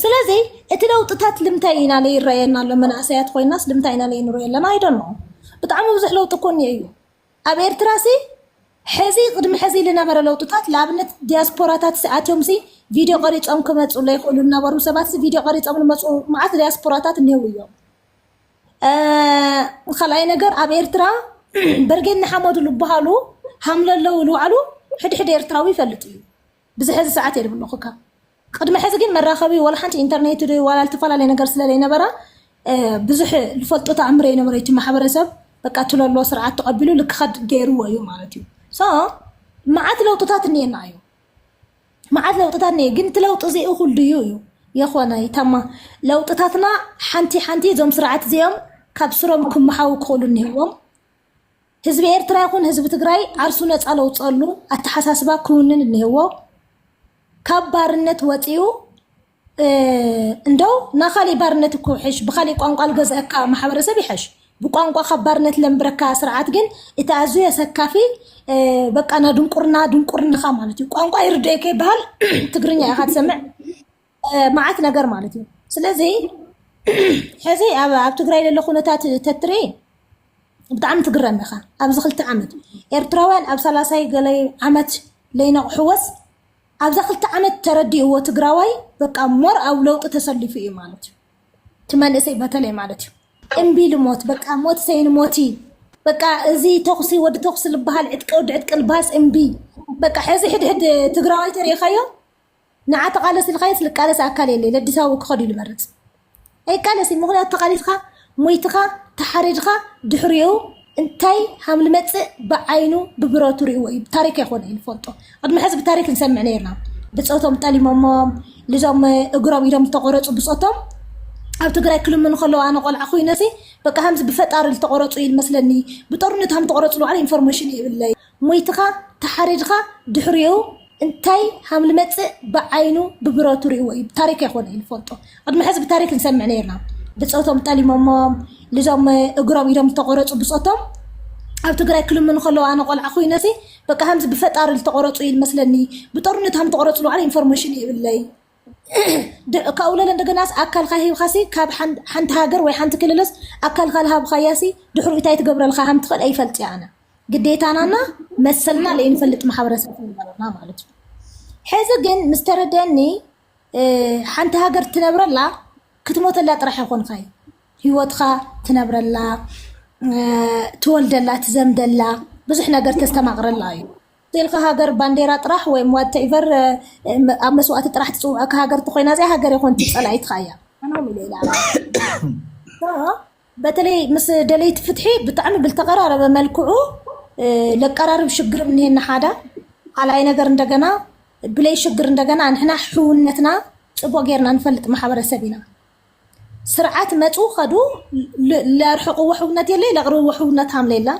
ስለዚ እቲ ለውጥታት ልምታይ ኢና ለይ ይረኣየና ኣሎ መናእሰያት ኮይናስ ልምታይ ኢና ለይ ንሪኦ ኣለና ኣይደን ብጣዕሚ ብዙሕ ለውጢ ኮኒ እዩ ኣብ ኤርትራሲ ሕዚ ቅድሚ ሕዚ ልነበረ ለውጥታት ልኣብነት ዲያስፖራታትሲ ኣትዮምሲ ቪድዮ ቀሪጾም ክመጹ ለይክእሉ ልነበሩ ሰባትሲ ቪድዮ ቀሪጾም ልመጹ መዓት ዲያስፖራታት እኒህው እዮም። ካልኣይ ነገር ኣብ ኤርትራ በርጌድ ንሓመዱ ልበሃሉ ሃምለለው ልባዕሉ ሕድሕድ ኤርትራዊ ይፈልጥ እዩ። ብዚ ሐዚ ሰዓት እየ ድብሎ ኩካ ቅድሚ ሐዚ ግን መራኸቢ ዋላ ሓንቲ ኢንተርኔት ዶ ዋላ ልትፈላለየ ነገር ስለ ዘይነበራ ብዙሕ ልፈልጦ ተኣምር የነበረ እቲ ማሕበረሰብ በቃ ትለሎ ስርዓት ተቐቢሉ ልክኸድ ገይርዎ እዩ ማለት እዩ ሶ መዓት ለውጥታት እኒኤና እዩ መዓት ለውጥታት እኒኤ ግን እቲ ለውጢ እዚ እኹል ድዩ እዩ የኾነ ይተማ ለውጥታትና ሓንቲ ሓንቲ እዞም ስርዓት እዚኦም ካብ ስሮም ክመሓው ክኽእሉ እኒሄዎም ህዝቢ ኤርትራ ይኹን ህዝቢ ትግራይ ዓርሱ ነፃ ለውፀሉ ኣተሓሳስባ ክውንን እኒህዎ ካብ ባርነት ወፂኡ እንደው ናኻሊእ ባርነት እኮ ይሕሽ ብኻሊእ ቋንቋ ልገዝአካ ማሕበረሰብ ይሕሽ ብቋንቋ ካብ ባርነት ለንብረካ ስርዓት ግን እቲ ኣዝዩ የሰካፊ በቃ ና ድንቁርና ድንቁርናኻ ማለት እዩ ቋንቋ ይርድኤከ ይበሃል ትግርኛ ኢኻ ትሰምዕ መዓት ነገር ማለት እዩ ስለዚ ሕዚ ኣብ ትግራይ ዘሎ ኩነታት ተትሪ ብጣዕሚ ትግረም ኢኻ ኣብዚ ክልተ ዓመት ኤርትራውያን ኣብ ሰላሳይ ገለ ዓመት ለይነቕሕወስ ኣብዛ ክልተ ዓመት ተረዲእዎ ትግራዋይ በቃ ሞር ኣብ ለውጢ ተሰሊፉ እዩ ማለት እዩ እቲ መንእሰይ በተለይ ማለት እዩ እምቢ ልሞት በቃ ሞት ሰይን ሞቲ በቃ እዚ ተኹሲ ወዲ ተኹሲ ዝበሃል ዕጥቂ ወዲ ዕጥቂ ልባስ እምቢ በቃ ሕዚ ሕድሕድ ትግራዋይ ተሪኢኻዮ ንዓ ተቃለስ ኢልካዮስ ልቃለስ ኣካል የለይ ለዲሳቡ ክከድ እዩ ልመርጽ ኣይቃለስ እዩ ምክንያቱ ተቃሊስካ ሞይትካ ተሓሪድካ ድሕሪኡ እንታይ ሃም ልመጽእ ብዓይኑ ብብረቱ ሪእዎ እዩ ታሪክ ኣይኮነ እዩ ንፈልጦ ቅድሚ ሕዚ ብታሪክ ንሰምዕ ነርና ብጾቶም ጠሊሞሞም ልዞም እግሮም ኢዶም ዝተቆረጹ ብጾቶም ኣብ ትግራይ ክልምኑ ከለዉ ኣነ ቆልዓ ኮይነሲ በቃ ሃምዚ ብፈጣሪ ዝተቆረጹ እዩ መስለኒ ብጦርነት ሃም ተቆረጹ ንባዕሉ ኢንፎርሜሽን ይብለይ ሞይትኻ ተሓሪድኻ ድሕሪኡ እንታይ ሃምልመፅእ ብዓይኑ ብብረቱ ሪእዎ እዩ ታሪክ ኣይኮነ ንፈልጦ ቅድሚ ሕዚ ብታሪክ ንሰምዕ ነርና ብፆቶም ጠሊሞሞም ልዞም እግሮም ኢዶም ዝተቆረፁ ብፆቶም ኣብ ትግራይ ክልምኑ ከለዉ ኣነ ቆልዓ ኮይነሲ በቃ ከምዚ ብፈጣሪ ዝተቆረፁ እዩ መስለኒ ብጦርነት ከም ተቆረፁ ልባዕለ ኢንፎርሜሽን ይብለይ ካብኡ ለለ እንደገናስ ኣካልካ ሂብካሲ ካብ ሓንቲ ሃገር ወይ ሓንቲ ክልልስ ኣካልካ ልሃብካያሲ ድሕሩ እንታይ ትገብረልካ ከም ትኽእል ኣይፈልጥ እያ ኣነ ግዴታናና መሰልና ለይንፈልጥ ማሕበረሰብ ነበርና ማለት እዩ ሕዚ ግን ምስ ተረደኒ ሓንቲ ሃገር ትነብረላ ክትሞተላ ጥራሕ ይኮንካ እዩ ህይወትካ ትነብረላ ትወልደላ ትዘምደላ ብዙሕ ነገር ተስተማቕረላ እዩ ኢልካ ሃገር ባንዴራ ጥራሕ ወይ ዋትቨር ኣብ መስዋእቲ ጥራሕ ትፅውዐካ ሃገር ተኮይና እዚኣ ሃገር ይኮን ፀላኢትካ እያ በተለይ ምስ ደለይቲ ፍትሒ ብጣዕሚ ብልተቀራረበ መልክዑ ለቀራርብ ሽግርም እኒሄና ሓዳ ካልኣይ ነገር እንደገና ብለይ ሽግር እንደገና ንሕና ሕውነትና ፅቡቅ ጌርና ንፈልጥ ማሕበረሰብ ኢና ስርዓት መፁ ከዱ ለርሕቕዎ ሕውነት የለ ለቕርብዎ ሕውነት ሃምለ የላ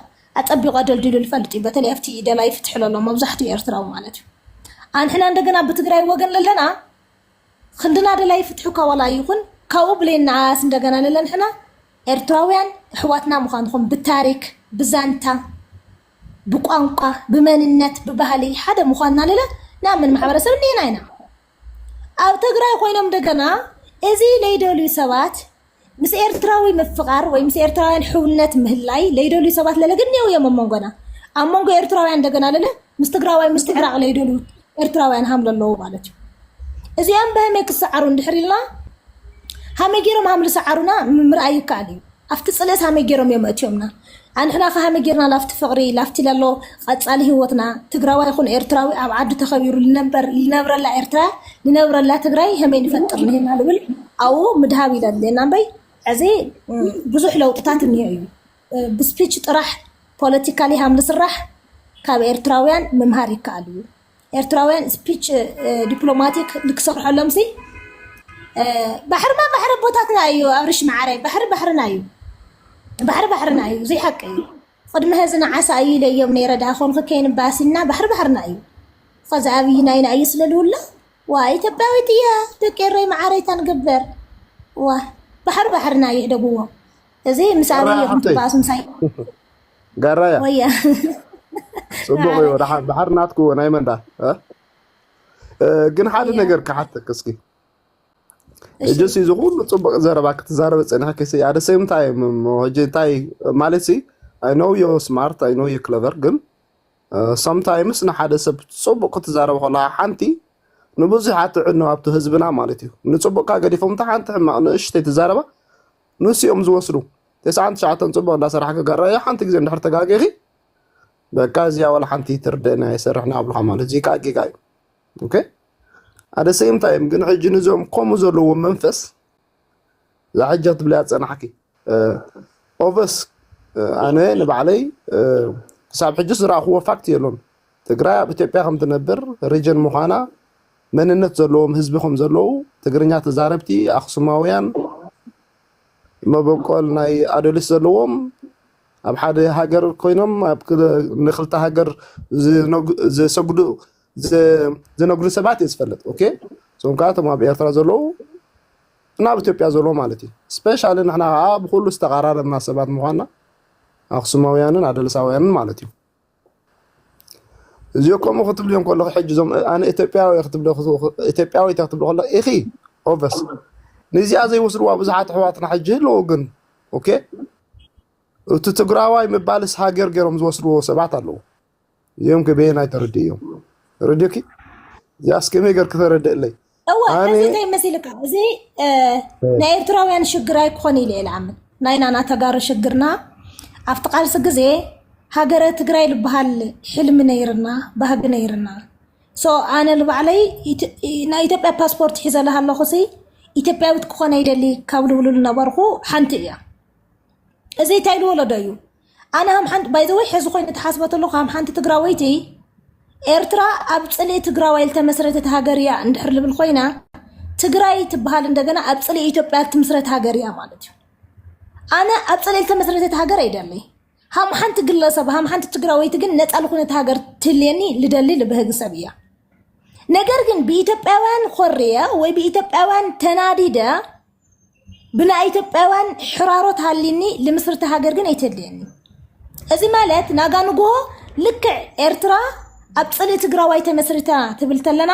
ኣፀቢቑ ኣደልዲሉ ልፈልጥ እዩ በተለይ ኣብቲ ደላይ ፍትሒ ለሎ መብዛሕትኡ ኤርትራዊ ማለት እዩ ኣንሕና እንደገና ብትግራይ ወገን ለለና ኽንድና ደላይ ፍትሒ እኳ ዋላ ይኹን ካብኡ ብሌን ንዓኣስ እንደገና ንለንሕና ኤርትራውያን ኣሕዋትና ምዃንኹም ብታሪክ ብዛንታ ብቋንቋ ብመንነት ብባህሊ ሓደ ምዃንና ንለ ንኣምን ማሕበረሰብ እንዲና ኢና ኣብ ትግራይ ኮይኖም እንደገና እዚ ለይደልዩ ሰባት ምስ ኤርትራዊ ምፍቓር ወይ ምስ ኤርትራውያን ሕውነት ምህላይ ለይደልዩ ሰባት ለለ ግን ኔው እዮም ኣብ መንጎና ኣብ መንጎ ኤርትራውያን እንደገና ለለ ምስ ትግራዋይ ምስ ትዕራቕ ለይደልዩ ኤርትራውያን ሃም ለለዉ ማለት እዩ እዚኦም በህመይ ክሰዓሩ እንድሕር ኢልና ሃመይ ገይሮም ሃም ዝሰዓሩና ምርኣይ ይከኣል እዩ ኣብቲ ፅልእት ሃመይ ገይሮም እዮም ኣእትዮምና ኣንሕና ከ ሃመይ ጌርና ላፍቲ ፍቅሪ ላፍቲ ለሎ ቀጻሊ ሂወትና ትግራዋይ ይኩን ኤርትራዊ ኣብ ዓዱ ተከቢሩ ልነበር ልነብረላ ኤርትራ ልነብረላ ትግራይ ሀመይ ንፈጥር ንህና ልብል ኣዉ ምድሃብ ይደሊ እና እምበይ ዐዚ ብዙሕ ለውጥታት እኒሆ እዩ ብስፒች ጥራሕ ፖለቲካሊ ሃም ልስራሕ ካብ ኤርትራውያን ምምሃር ይከኣል እዩ ኤርትራውያን ስፒች ዲፕሎማቲክ ንክሰርሐሎም ሲ ባሕርማ ባሕሪ ኣቦታትና እዩ ኣብርሽ መዓረይ ባሕሪ ባሕርና እዩ ባሕሪ ባሕርና እዩ ዘይሓቂ እዩ ቅድሚ ሀዚ ንዓሳ እዩ ኢለዮም ነይረ ድኣ ኮንክ ከይንባሲና ባሕሪ ባሕርና እዩ ከዚ ኣብይ ናይና እዩ ስለልውላ ዋ ኢትዮጵያዊት እያ ደቂ ኤረይ መዓረይታ ንግበር ዋ ባሕሪ ባሕርና እዩ ሕደግዎ እዚ ምስ ኣብይ እዮም ትባእሱ ምሳይ ጋራያ ወያ ጽቡቅ እዩ ዳሓ ድሓር ናትኩ ናይ መንዳ ግን ሓደ ወያ ነገር ክሓተክ እስኪ እሺ እጅስ እዚ ኩሉ ጽቡቅ ዘረባ ክትዛረበ ጸኒሕክ ሲ ኣደ ሴም ታይም እሞ ሕጂ እንታይ ማለት ሲ ኣይ ኖው ዮ ስማርት ኣይ ኖው ዩ ክለቨር ግን ሰምታይምስ ንሓደ ሰብ ጽቡቅ ክትዛረብ ከለካ ሓንቲ ንብዙሕ ኣትዕኖ ኣብቲ ህዝብና ማለት እዩ ንጽቡቅካ ገዲፎም እታ ሓንቲ ሕማቅ ንእሽተይ ትዛረባ ንሱ እዮም ዝወስዱ። ተስዓን ትሽዓተን ፅቡቅ እንዳሰራሕ ክጋራ እያ ሓንቲ ግዜ እንድሕር ተጋጊኺ በቃ እዚያ ዋላ ሓንቲ ትርደና የሰርሕና ኣብልካ ማለት እዚ ከዓ ጌጋ እዩ። ኦኬ ኣደ ሰይም ታይም ግን ሕጂ ንዞም ከምኡ ዘለዎ መንፈስ እዛ ሕጂ ትብለያ ፀናሕኪ ኦቨስ ኣነ ንባዕለይ ክሳብ ሕጂ ዝረኣኽዎ ፋክት የሎን ትግራይ ኣብ ኢትዮጵያ ከምትነብር ሪጅን ምዃና መንነት ዘለዎም ህዝቢ ከም ዘለዉ ትግርኛ ተዛረብቲ ኣክሱማውያን መበቆል ናይ ኣዶሊስ ዘለዎም ኣብ ሓደ ሃገር ኮይኖም ኣብ ንክልተ ሃገር ዝሰግዱ ዝነግዱ ሰባት እየ ዝፈልጥ ኦኬ እዞም ከዓ እቶም ኣብ ኤርትራ ዘለዉ እና ኣብ ኢትዮጵያ ዘለዉ ማለት እዩ ስፔሻሊ ንሕና ከዓ ብኩሉ ዝተቀራረብና ሰባት ምኳና ኣክሱማውያንን ኣደልሳውያንን ማለት እዩ እዚኦ ከምኡ ክትብሊ ከለኹ ሕጂ እዞም ኣነ ኢትዮጵያዊ ክትብሎ ኢትዮጵያዊት ክትብሎ ከለኹ ኢኺ ኦቨስ ንዚኣ ዘይወስድዋ ብዙሓት ኣሕዋትና ሕጂ ኣለዎ ግን ኦኬ እቲ ትግራዋይ ምባልስ ሃገር ገይሮም ዝወስድዎ ሰባት ኣለዎ እዚኦም ከበየናይ ተረድእ እዮም ረድዮኪ እዚኣስ ከመይ ገር ክተረድእለይ እወ እዚ እንታይ መሲልካ እዚ ናይ ኤርትራውያን ሽግር ኣይኮን ኢለ ልኣምን ናይና ና ተጋሩ ሽግርና ኣብቲ ቃልሲ ግዜ ሃገረ ትግራይ ዝበሃል ሕልሚ ነይርና ባህጊ ነይርና ሶ ኣነ ንባዕለይ ናይ ኢትዮጵያ ፓስፖርት ሒዘለሃ ኣለኹ ሲ ኢትዮጵያዊት ክኾነ ይደሊ ካብ ልብሉ ዝነበርኩ ሓንቲ እያ እዚ እንታይ ልወለዶ እዩ ኣነ ሃም ሓንቲ ባይ ዘ ወይ ሕዚ ኮይኑ ተሓስቦ ተለኹ ሃም ሓንቲ ትግራወይቲ ኤርትራ ኣብ ጽልኢ ትግራዋይ ዝተመስረተት ሃገር እያ እንድሕር ልብል ኮይና ትግራይ ትበሃል እንደገና ኣብ ጽልኢ ኢትዮጵያ እትምስረት ሃገር እያ ማለት እዩ ኣነ ኣብ ጽልኢ ዝተመስረተት ሃገር ኣይደለይ ሃም ሓንቲ ግለሰብ ሃም ሓንቲ ትግራወይቲ ግን ነፃ ልኩነት ሃገር ትልየኒ ልደሊ ልብህግ ሰብ እያ ነገር ግን ብኢትዮጵያውያን ኮርየ ወይ ብኢትዮጵያውያን ተናዲደ ብናይ ኢትዮጵያውያን ሕራሮት ሃሊኒ ልምስርቲ ሃገር ግን ኣይተድልየኒ እዚ ማለት ናጋ ንግሆ ልክዕ ኤርትራ ኣብ ፅልኢ ትግራዋይ ተመስሪታ ትብል ተለና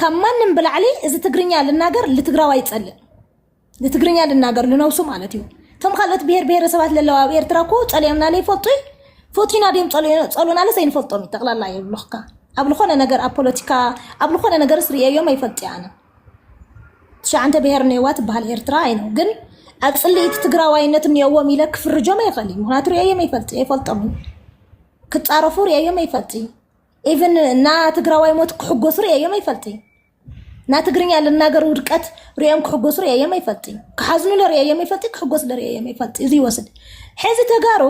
ካብ ማንም ብላዕሊ እዚ ትግርኛ ልናገር ልትግራዋይ ይፀልእ ንትግርኛ ልናገር ልነብሱ ማለት እዩ እቶም ካልኦት ብሄር ብሄረሰባት ለለዋ ኣብ ኤርትራ እኮ ፀሊኦምና ለይፈልጡ እዩ ፎቲና ድዮም ፀሉናለስ ኣይንፈልጦም እዩ ጠቕላላ የብልኽካ ኣብ ዝኾነ ነገር ኣብ ፖለቲካ ኣብ ዝኾነ ነገርስ ርእየዮም ኣይፈልጥ እየ ኣነ ትሽዓንተ ብሄር እኔዋ ትበሃል ኤርትራ ኣይ ነው ግን ኣብ ፅልኢት ትግራዋይነት እኔዎም ኢለ ክፍርጆም ኣይኽእል እዩ ምክንያቱ ሪኣዮም ኣይፈልጥ ኣይፈልጦም እዩ ክፃረፉ ሪኣዮም ኣይፈልጥ እዩ ኢቨን እና ትግራዋይ ሞት ክሕጎሱ ሪኣዮም ኣይፈልጥ እዩ እና ትግርኛ ልናገር ውድቀት ሪኦም ክሕጎሱ ሪኣዮም ኣይፈልጥ እዩ ክሓዝኑ ለሪኣዮም ኣይፈልጥ እዩ ክሕጎሱ ለሪኣዮም ኣይፈልጥ እዩ እዚ ይወስድ ሕዚ ተጋሩ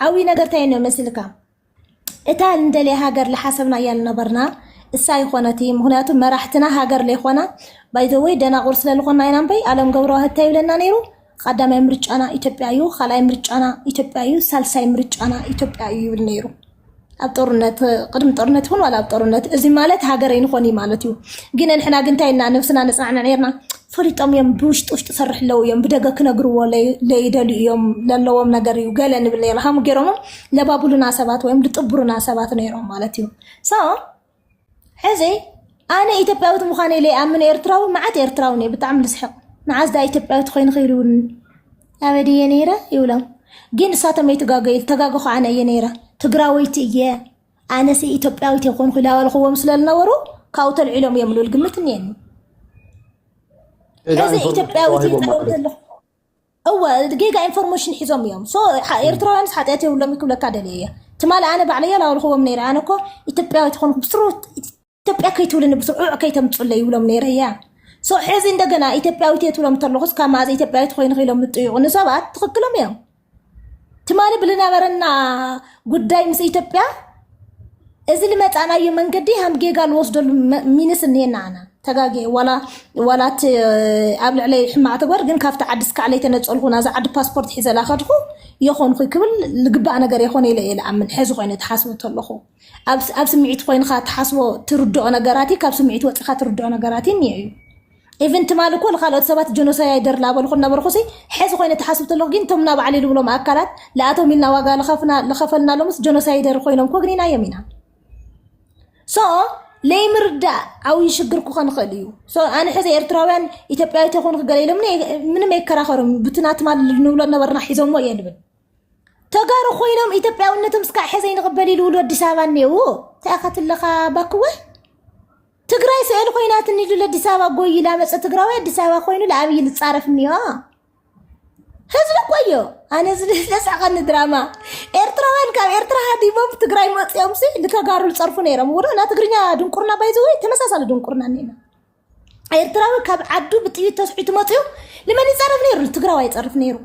ዓብይ ነገር እንታይ ነው መስልካ እታ እንደልያ ሃገር ልሓሰብና እያ ልነበርና እሳ ኣይኾነትይ ምክንያቱ መራሕትና ሃገር ለይኾና ባይዘወይ ደናቁር ስለልኾና ኢና እምበይ ኣለም ገብረዋህድ እንታይ ይብለና ነይሩ ቀዳማይ ምርጫና ኢትዮጵያ እዩ ካልኣይ ምርጫና ኢትዮጵያ እዩ ሳልሳይ ምርጫና ኢትዮጵያ እዩ ይብል ነይሩ ኣብ ጦርነት ቅድሚ ጦርነት ይኹን ዋላ ኣብ ጦርነት እዚ ማለት ሃገር ኣይንኾን እዩ ማለት እዩ ግን ንሕና ግን እንታይ ኢልና ነብስና ነፅናዕንዕ ነርና ፈሊጦም እዮም ብውሽጢ ውሽጢ ሰርሕ ኣለዉ እዮም ብደገ ክነግርዎ ለይደልዩ እዮም ለለዎም ነገር እዩ ገለ ንብል ነይሩ ሃሙ ገይሮሞ ለባብሉና ሰባት ወይም ልጥብሩና ሰባት ነይሮም ማለት እዩ ሶ ሕዚ ኣነ ኢትዮጵያዊት ምዃነ ለይኣምን ኤርትራዊ መዓት ኤርትራውን እየ ብጣዕሚ ልስሕቕ መዓዝ ዳ ኢትዮጵያዊት ኮይኑ ክይልውን ኣበድ እየ ነይረ ይብሎም ግን እሳቶም ኣይተጋገዩ ተጋገኹ ኣነ እየ ነይረ ትግራወይቲ እየ ኣነሲ ኢትዮጵያዊት እየ ኮንኩ ኢላ በልክዎም ስለዝነበሩ ካብኡ ተልዒሎም እዮም ልብል ግምት እኒአኒ ጌጋ እዚ ኢንፎርሜሽን ኢትዮጵያዊት እየ ተዋሂቦም ማለት ተገብተ እዩ ኣለኹ እወ ጌጋ ኢንፎርሜሽን ሒዞም እዮም ሶ ሓ- ኤርትራውያንስ ሓጢኣት የብሎም ክብለካ ደልየ እየ ትማሊ ኣነ ባዕለየ ላበልክዎም ነይረ ኣነ እኮ ኢትዮጵያዊት ኮንኩ ብስሩ ኢትዮጵያ ከይትብልኒ ብስዑዕ ከይተምፁለይ ይብሎም ነይረ እያ ሶ ሕዚ እንደገና ኢትዮጵያዊት እየ ትብሎም ተለኹስ ካብ መኣዘ ኢትዮጵያዊት ኮይኑ ክኢሎም ምጥይቑ ንሰባት ትኽክሎም እዮም ትማሊ ብልነበረና ጉዳይ ምስ ኢትዮጵያ እዚ ልመፃእናዮ መንገዲ ሃም ጌጋ ልወስደሉ መ- ሚንስ እኒሄና ኣና ተጋጌ ዋላ ዋላ እቲ ኣብ ልዕለይ ሕማቅ ተግባር ግን ካብቲ ዓዲ ስካዕ ለይተነፀልኩ ናዛ ዓዲ ፓስፖርት ሒዘላ ከድኩ የኾንኩ ክብል ልግባእ ነገር የኾነ ኢለ እየ ልኣምን ሕዚ ኮይኑ ተሓስቡ ተለኹ ኣብ ስምዒት ኮይንካ ትሓስቦ ትርድኦ ነገራት እዩ ካብ ስምዒት ወፂካ ትርድኦ ነገራት እዩ እኒኦ እዩ ኢቨን ትማሊ እኮ ንካልኦት ሰባት ጀኖሳይደር ላበልኩ ነበርኩሲ ሕዚ ኮይነ ተሓስብ ተለኩ ግን እቶም ናባዕሊ ልብሎም ኣካላት ለኣቶም ኢልና ዋጋ ለኸፈልናሎምስ ጀኖሳይደር ኮይኖም ኮግኒናዮም ኢና ሶ ለይምርዳእ ዓብይ ሽግር ክኾን ይኽእል እዩ ኣነ ሕዚ ኤርትራውያን ኢትዮጵያዊት ይኹን ክገለ ኢሎምኒ ምንም ኣይከራኸርም ብትና ትማሊ ንብሎ ነበርና ሒዞሞ እየ ልብል ተጋሩ ኮይኖም ኢትዮጵያውነቶም እስካዕ ሕዘ ይንቕበል ይልውሉ ኣዲስ ኣበባ እኔው እንታይ ከትለኻ ባክወ ትግራይ ስዕል ኮይናት እንዱ ለኣዲስ ኣበባ ጎይ ላመፀ ትግራዊ ኣዲስ ኣበባ ኮይኑ ለኣብይ ልፃረፍ እኒዮ ህዝቢ ቆዮ ኣነ ዝለስዕቐኒ ድራማ ኤርትራውያን ካብ ኤርትራ ሃዲሞም ትግራይ መፅኦም ሲ ንተጋሩ ዝፀርፉ ነይሮም ውሮ ና ትግርኛ ድንቁርና ባይዘወይ ተመሳሳሊ ድንቁርና እኒና ኤርትራዊ ካብ ዓዱ ብጥይት ተስሒቱ መፅኡ ንመን ይፀርፍ ነይሩ? ንትግራዋይ ይፀርፍ ነይሩ።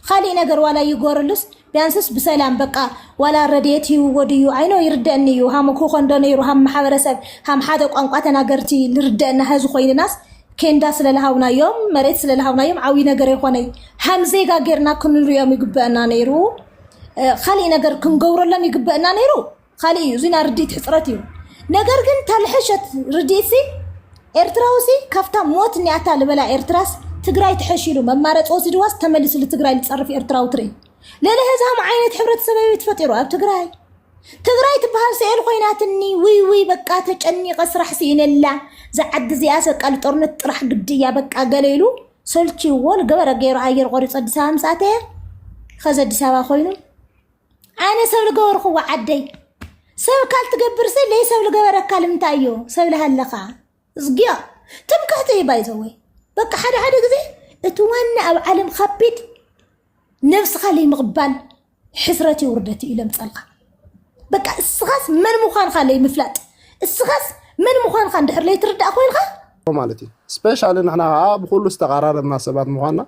ካሊእ ነገር ዋላ ይጎርሉስ ቢያንስስ ብሰላም በቃ ዋላ ረድኤት ይህብዎ ድዩ ኣይኖ ይርደአኒ እዩ ሃም ክኾን ዶ ነይሩ ሃም ማሕበረሰብ ሃም ሓደ ቋንቋ ተናገርቲ ልርደአና ህዚ ኮይንናስ ኬንዳ ስለልሃውናዮም መሬት ስለልሃውናዮም ዓብዪ ነገር የኾነይ ሃም ዜጋ ጌርና ክንሪኦም ይግበአና ነይሩ እ፣ ካሊእ ነገር ክንገብረሎም ይግበአና ነይሩ ኻሊእ እዩ እዙይ ናይ ርድኢት ሕፅረት እዩ ነገር ግን ታልሐሸት ርድኢት ሲ ኤርትራዊ ሲ ካብታ ሞት ኒያታ ልበላ ኤርትራስ ትግራይ ትሐሺሉ መማረፂ ወሲድዋስ ተመሊሱ ልትግራይ ልፀርፍ ኤርትራዊ ትርኢ ልእለ ህዝሃም ዓይነት ሕብረተሰብ እዩ ተፈጢሩ ኣብ ትግራይ ትግራይ ትበሃል ስኤል ኮይናትኒ ውይ ውይ በቃ ተጨኒቀ ስራሕ ስኢነላ ዝዓዲ እዚኣ ሰቃ ልጦርነት ጥራሕ ግዲ እያ በቃ ገለ ኢሉ ሰልችዎ ልገበረ ገይሩ ኣየር ቆሪፆ ኣዲስ ኣበባ ምስ ኣተየ ኸዚ ኣዲስ ኣበባ ኮይኑ ኣነ ሰብ ዝገበርክዎ ዓደይ ሰብ ካል ትገብር ሲ ለይ ሰብ ዝገበረካ ልምንታይ እዩ ሰብ ልሃለኻ እዝግዮ ትምክሕቲ እዩ ባይዘወይ በቃ ሓደ ሓደ ግዜ እቲ ዋና ኣብ ዓለም ከቢድ ነብስኻ ለይምቕባል ሕስረት እዩ ውርደት እዩ ለምፀልካ በቃ እስኻስ መን ምዃንካ ለይምፍላጥ እስኻስ መን ምዃንካ እንድሕር ለይትርዳእ ኮይንካ ማለት እዩ ስፔሻሊ ንሕና ከዓ ብኩሉ ዝተቀራረብና ሰባት ምኳና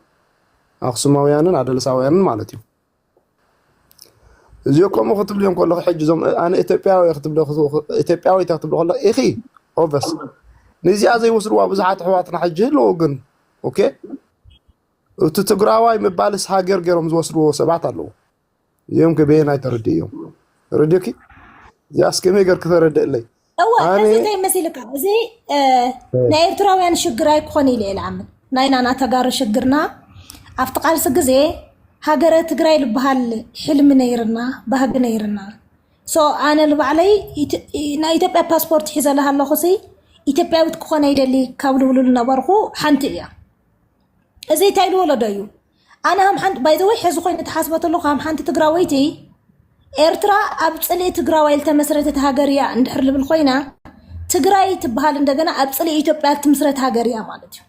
ኣክሱማውያንን ኣደልሳውያንን ማለት እዩ እዚኦ ከምኡ ክትብሊ ከለኹ ሕጂ እዞም ኣነ ኢትዮጵያዊ ክትብሎ ኢትዮጵያዊት ክትብሎ ከለኹ ኢኺ ኦቨስ ንዚኣ ዘይወስድዋ ብዙሓት ኣሕዋትና ሕጂ ኣለዉ ግን ኦኬ እቲ ትግራዋይ ምባልስ ሃገር ገይሮም ዝወስድዎ ሰባት ኣለዉ እዚኦም ከበየናይ ተረድእ እዮም ረድዮኪ እዚኣስ ከመይ ገር ክተረድእለይ እወ እዚ ዘይመሲልካ እዚ ናይ ኤርትራውያን ሽግር ኣይኮን ኢለ ልኣምን ናይና ና ተጋሩ ሽግርና ኣብቲ ቃልሲ ግዜ ሃገረ ትግራይ ዝበሃል ሕልሚ ነይርና ባህጊ ነይርና ሶ ኣነ ንባዕለይ ናይ ኢትዮጵያ ፓስፖርት ሒዘለሃ ኣለኹ ሲ ኢትዮጵያዊት ክኾነ ይደሊ ካብ ልብሉ ዝነበርኩ ሓንቲ እያ እዚ እንታይ ልወለዶ እዩ ኣነ ከም ሓንቲ ባይ ዘ ወይ ሕዚ ኮይኑ ተሓስቦ ተለኩ ከም ሓንቲ ትግራወይቲ ኤርትራ ኣብ ፅልኢ ትግራዋይ ዝተመስረተት ሃገር እያ እንድሕር ልብል ኮይና ትግራይ ትበሃል እንደገና ኣብ ፅልኢ ኢትዮጵያ እትምስረት ሃገር እያ ማለት እዩ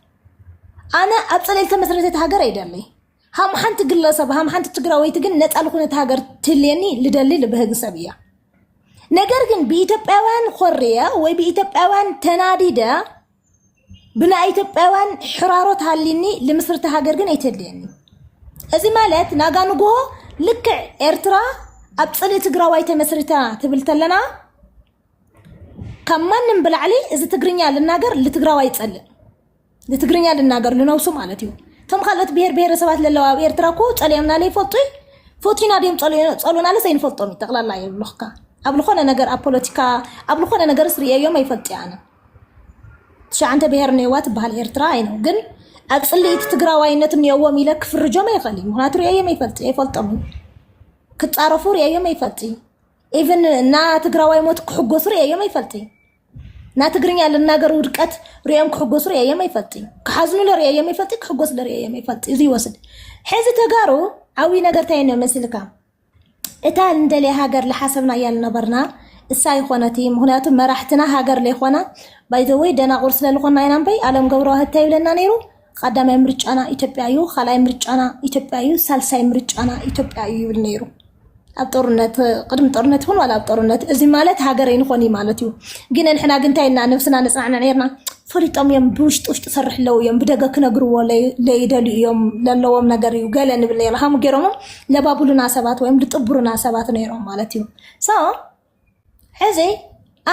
ኣነ ኣብ ፅልኢ ዝተመስረተት ሃገር ኣይደለይ ሃም ሓንቲ ግለሰብ ሃም ሓንቲ ትግራወይቲ ግን ነፃ ልኩነት ሃገር ትልየኒ ልደሊ ልብህግ ሰብ እያ ነገር ግን ብኢትዮጵያውያን ኮርየ ወይ ብኢትዮጵያውያን ተናዲደ ብናይ ኢትዮጵያውያን ሕራሮት ሃሊኒ ልምስርቲ ሃገር ግን ኣይተድልየኒ እዚ ማለት ናጋ ንግሆ ልክዕ ኤርትራ ኣብ ፅልኢ ትግራዋይ ተመስሪታ ትብል ተለና ካብ ማንም ብላዕሊ እዚ ትግርኛ ልናገር ልትግራዋይ ይፀልእ ንትግርኛ ልናገር ልነብሱ ማለት እዩ እቶም ካልኦት ብሄር ብሄረሰባት ለለዋ ኣብ ኤርትራ እኮ ፀሊኦምና ለይፈልጡ እዩ ፎቲና ድዮም ፀሉናለስ ኣይንፈልጦም እዩ ጠቕላላ የብልኽካ ኣብ ዝኾነ ነገር ኣብ ፖለቲካ ኣብ ዝኾነ ነገርስ ርእየዮም ኣይፈልጥ እየ ኣነ ትሽዓንተ ብሄር እኔዋ ትበሃል ኤርትራ ኣይ ነው ግን ኣብ ፅልኢት ትግራዋይነት እኔዎም ኢለ ክፍርጆም ኣይኽእል እዩ ምክንያቱ ሪአዮም ኣይፈልጥ ኣይፈልጦም እዩ ክፃረፉ ሪአዮም ኣይፈልጥ እዩ ኢቨን እና ትግራዋይ ሞት ክሕጎሱ ሪአዮም ኣይፈልጥ እዩ እና ትግርኛ ልናገር ውድቀት ሪኦም ክሕጎሱ ሪአዮም ኣይፈልጥ እዩ ክሓዝኑ ለሪአዮም ኣይፈልጥ እዩ ክሕጎሱ ለሪአዮም ኣይፈልጥ እዩ እዚ ይወስድ ሕዚ ተጋሩ ዓብይ ነገር እንታይ ነው መስልካ እታ እንደልያ ሃገር ልሓሰብና እያ ልነበርና እሳ ኣይኾነትይ ምኽንያቱ መራሕትና ሃገር ለይኾና ባይዘወይ ደናቑር ስለ ልኾና ኢና እምበይ ኣለም ገብረዋህድ እንታይ ይብለና ነይሩ ቐዳማይ ምርጫና ኢትዮጵያ እዩ ካልኣይ ምርጫና ኢትዮጵያ እዩ ሳልሳይ ምርጫና ኢትዮጵያ እዩ ይብል ነይሩ ኣብ ጦርነት ቅድሚ ጦርነት ይኹን ዋላ ኣብ ጦርነት እዚ ማለት ሃገር ኣይንኾን እዩ ማለት እዩ ግን ንሕና ግን እንታይ ኢልና ነብስና ነፅናዕንዕ ነርና ፈሊጦም እዮም ብውሽጢ ውሽጢ ሰርሕ ኣለዉ እዮም ብደገ ክነግርዎ ለይደልዩ እዮም ለለዎም ነገር እዩ ገለ ንብል ነይሩ ሃም ገይሮም ለባብሉና ሰባት ወይም ልጥብሩና ሰባት ነይሮም ማለት እዩ ሶ ሕዚ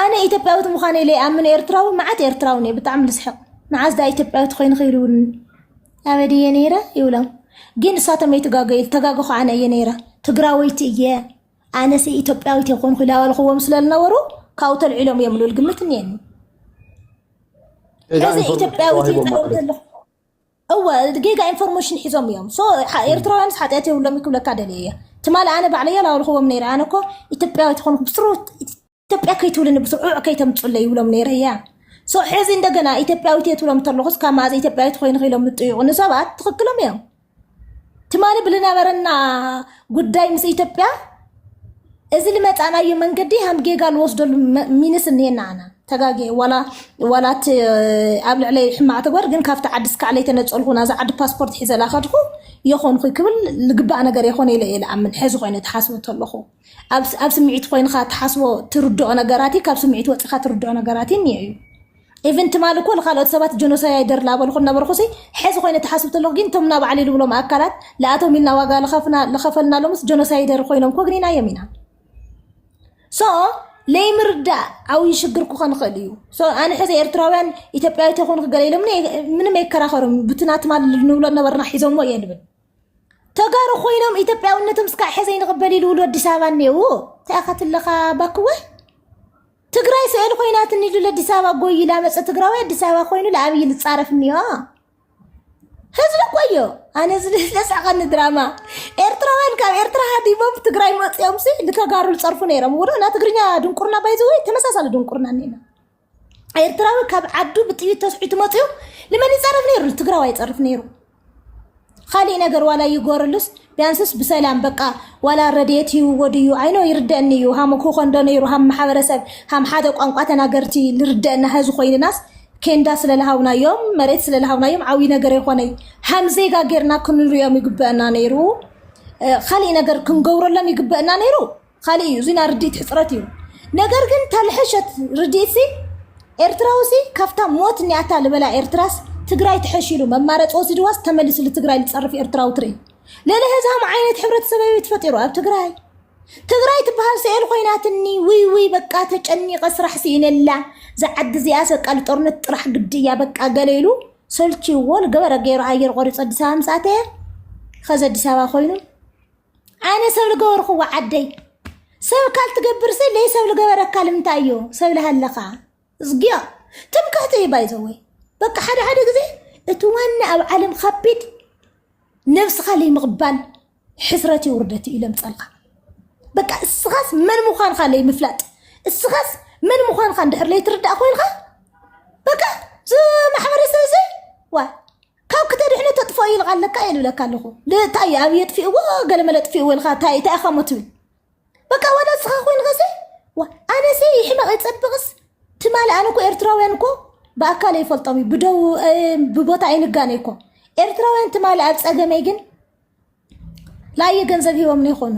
ኣነ ኢትዮጵያዊት ምዃነ ለይኣምን ኤርትራዊ መዓት ኤርትራውን እየ ብጣዕሚ ልስሕቕ መዓዝ ዳ ኢትዮጵያዊት ኮይኑ ክይልውን ኣበድ እየ ነይረ ይብሎም ግን እሳቶም ኣይተጋገዩ ተጋገኹ ኣነ እየ ነይረ ትግራወይቲ እየ ኣነሲ ኢትዮጵያዊት እየ ኮንኩ ኢላ በልክዎም ስለዝነበሩ ካብኡ ተልዒሎም እዮም ልብል ግምት እኒአኒ ጌጋ እዚ ኢንፎርሜሽን ኢትዮጵያዊት እየ ተዋሂቦም ማለት ተገብተ እዩ ኣለኹ እወ ጌጋ ኢንፎርሜሽን ሒዞም እዮም ሶ ሓ- ኤርትራውያንስ ሓጢኣት የብሎም ክብለካ ደልየ እየ ትማሊ ኣነ ባዕለየ ላበልክዎም ነይረ ኣነ እኮ ኢትዮጵያዊት ኮንኩ ብስሩ ኢትዮጵያ ከይትብልኒ ብስዑዕ ከይተምፁለይ ይብሎም ነይረ እያ ሶ ሕዚ እንደገና ኢትዮጵያዊት እየ ትብሎም ተለኹስ ካብ መኣዘ ኢትዮጵያዊት ኮይኑ ክኢሎም ምጥይቑ ንሰባት ትኽክሎም እዮም ትማሊ ብልነበረና ጉዳይ ምስ ኢትዮጵያ እዚ ልመፃናዩ መንገዲ ሃም ጌጋ ልወስደሉ መ- ሚንስ እኒሄና ኣና ተጋጌ ዋላ ዋላ እቲ ኣብ ልዕለይ ሕማቅ ተግባር ግን ካብቲ ዓዲ ስካዕ ለይተነፀልኩ ናዛ ዓዲ ፓስፖርት ሒዘላ ከድኩ የኾንኩ ክብል ልግባእ ነገር የኾነ ኢለ እየ ልኣምን ሕዚ ኮይኑ ተሓስቡ ተለኹ ኣብ ስምዒት ኮይንካ ትሓስቦ ትርድኦ ነገራት እዩ ካብ ስምዒት ወፂካ ትርድኦ ነገራት እዩ እኒኦ እዩ ኢቨን ትማሊ እኮ ንካልኦት ሰባት ጀኖሳይደር ላበልኩ ነበርኩሲ ሕዚ ኮይነ ተሓስብ ተለኩ ግን እቶም ናባዕሊ ልብሎም ኣካላት ለኣቶም ኢልና ዋጋ ለኸፈልናሎምስ ጀኖሳይደር ኮይኖም ኮግኒናዮም ኢና ሶ ለይምርዳእ ዓብይ ሽግር ክኾን ይኽእል እዩ ኣነ ሕዚ ኤርትራውያን ኢትዮጵያዊ ተኾንኩ ገለ ኢሎምኒ ምንም ኣይከራኸሩም ብትና ትማሊ ንብሎ ነበርና ሒዞሞ እየ ልብል ተጋሩ ኮይኖም ኢትዮጵያውነቶም እስካዕ ሕዘ ይንቕበል ይልውሉ ኣዲስ ኣበባ እኔው እንታይ ከትለኻ ባክወ ትግራይ ስዕል ኮይናት እንሉ ለኣዲስ ኣበባ ጎይ ላመፀ ትግራዊ ኣዲስ ኣበባ ኮይኑ ለኣብይ ልፃረፍ እኒዮ ህዝቢ ቆዮ ኣነ ዝለስዕቐኒ ድራማ ኤርትራውያን ካብ ኤርትራ ሃዲሞም ትግራይ መፅኦም ሲ ንተጋሩ ዝፀርፉ ነይሮም ውሮ ና ትግርኛ ድንቁርና ባይዘወይ ተመሳሳሊ ድንቁርና እኒና ኤርትራዊ ካብ ዓዱ ብጥይት ተስሒቱ መፅኡ ንመን ይፀርፍ ነይሩ? ንትግራዋይ ይፀርፍ ነይሩ። ካሊእ ነገር ዋላ ይጎርሉስ ቢያንስስ ብሰላም በቃ ዋላ ረድኤት ይህብዎ ድዩ ኣይኖ ይርደአኒ እዩ ሃም ክኾን ዶ ነይሩ ሃም ማሕበረሰብ ሃም ሓደ ቋንቋ ተናገርቲ ልርደአና ህዚ ኮይንናስ ኬንዳ ስለልሃውናዮም መሬት ስለልሃውናዮም ዓብዪ ነገር የኾነይ ሃም ዜጋ ጌርና ክንሪኦም ይግበአና ነይሩ እ፣ ካሊእ ነገር ክንገብረሎም ይግበአና ነይሩ ኻሊእ እዩ እዚ ናይ ርድኢት ሕፅረት እዩ ነገር ግን ተልሐሸት ርድኢት ሲ ኤርትራዊ ሲ ካብታ ሞት ኒያታ ልበላ ኤርትራስ ትግራይ ትሐሺሉ መማረፂ ወሲድዋስ ተመሊሱ ልትግራይ ልፀርፍ ኤርትራዊ ትርኢ ልእለ ህዝሃም ዓይነት ሕብረተሰብ እዩ ተፈጢሩ ኣብ ትግራይ ትግራይ ትበሃል ስኤል ኮይናትኒ ውይ ውይ በቃ ተጨኒቀ ስራሕ ስኢነላ ዝዓዲ እዚኣ ሰቃ ልጦርነት ጥራሕ ግዲ እያ በቃ ገለ ኢሉ ሰልችዎ ልገበረ ገይሩ ኣየር ቆሪፆ ኣዲስ ኣበባ ምስ ኣተየ ኸዚ ኣዲስ ኣበባ ኮይኑ ኣነ ሰብ ዝገበርክዎ ዓደይ ሰብ ካል ትገብር ሲ ለይ ሰብ ዝገበረካ ልምንታይ እዩ ሰብ ልሃለኻ እዝግዮ ትምክሕቲ እዩ ባይዘወይ በቃ ሓደ ሓደ ግዜ እቲ ዋና ኣብ ዓለም ከቢድ ነብስኻ ለይምቕባል ሕስረት እዩ ውርደት እዩ ለምፀልካ በቃ እስኻስ መን ምዃንካ ለይምፍላጥ እስኻስ መን ምዃንካ እንድሕር ለይትርዳእ ኮይንካ በቃ እዚ ማሕበረሰብ እዚ ዋ ካብ ክተድሕኖ ተጥፍኦ ይልቃ ኣለካ እየ ልብለካ ኣለኹ ታይ ኣብ የጥፊእዎ ገለመለ ጥፊእዎ ኢልካ ታይ እንታይ ኢኻ ሞ ትብል በቃ ዋላ ንስኻ ኮይንኸሰ ኣነሰ ይሕመቕ ይፀብቕስ ትማሊ ኣነ እኮ ኤርትራውያን እኮ ብኣካል ይፈልጦም እዩ ብደው እ፣ ብቦታ ኣይንጋነ እኮ ኤርትራውያን ትማሊ ኣብ ፀገመይ ግን ላየ ገንዘብ ሂቦም ይኾኑ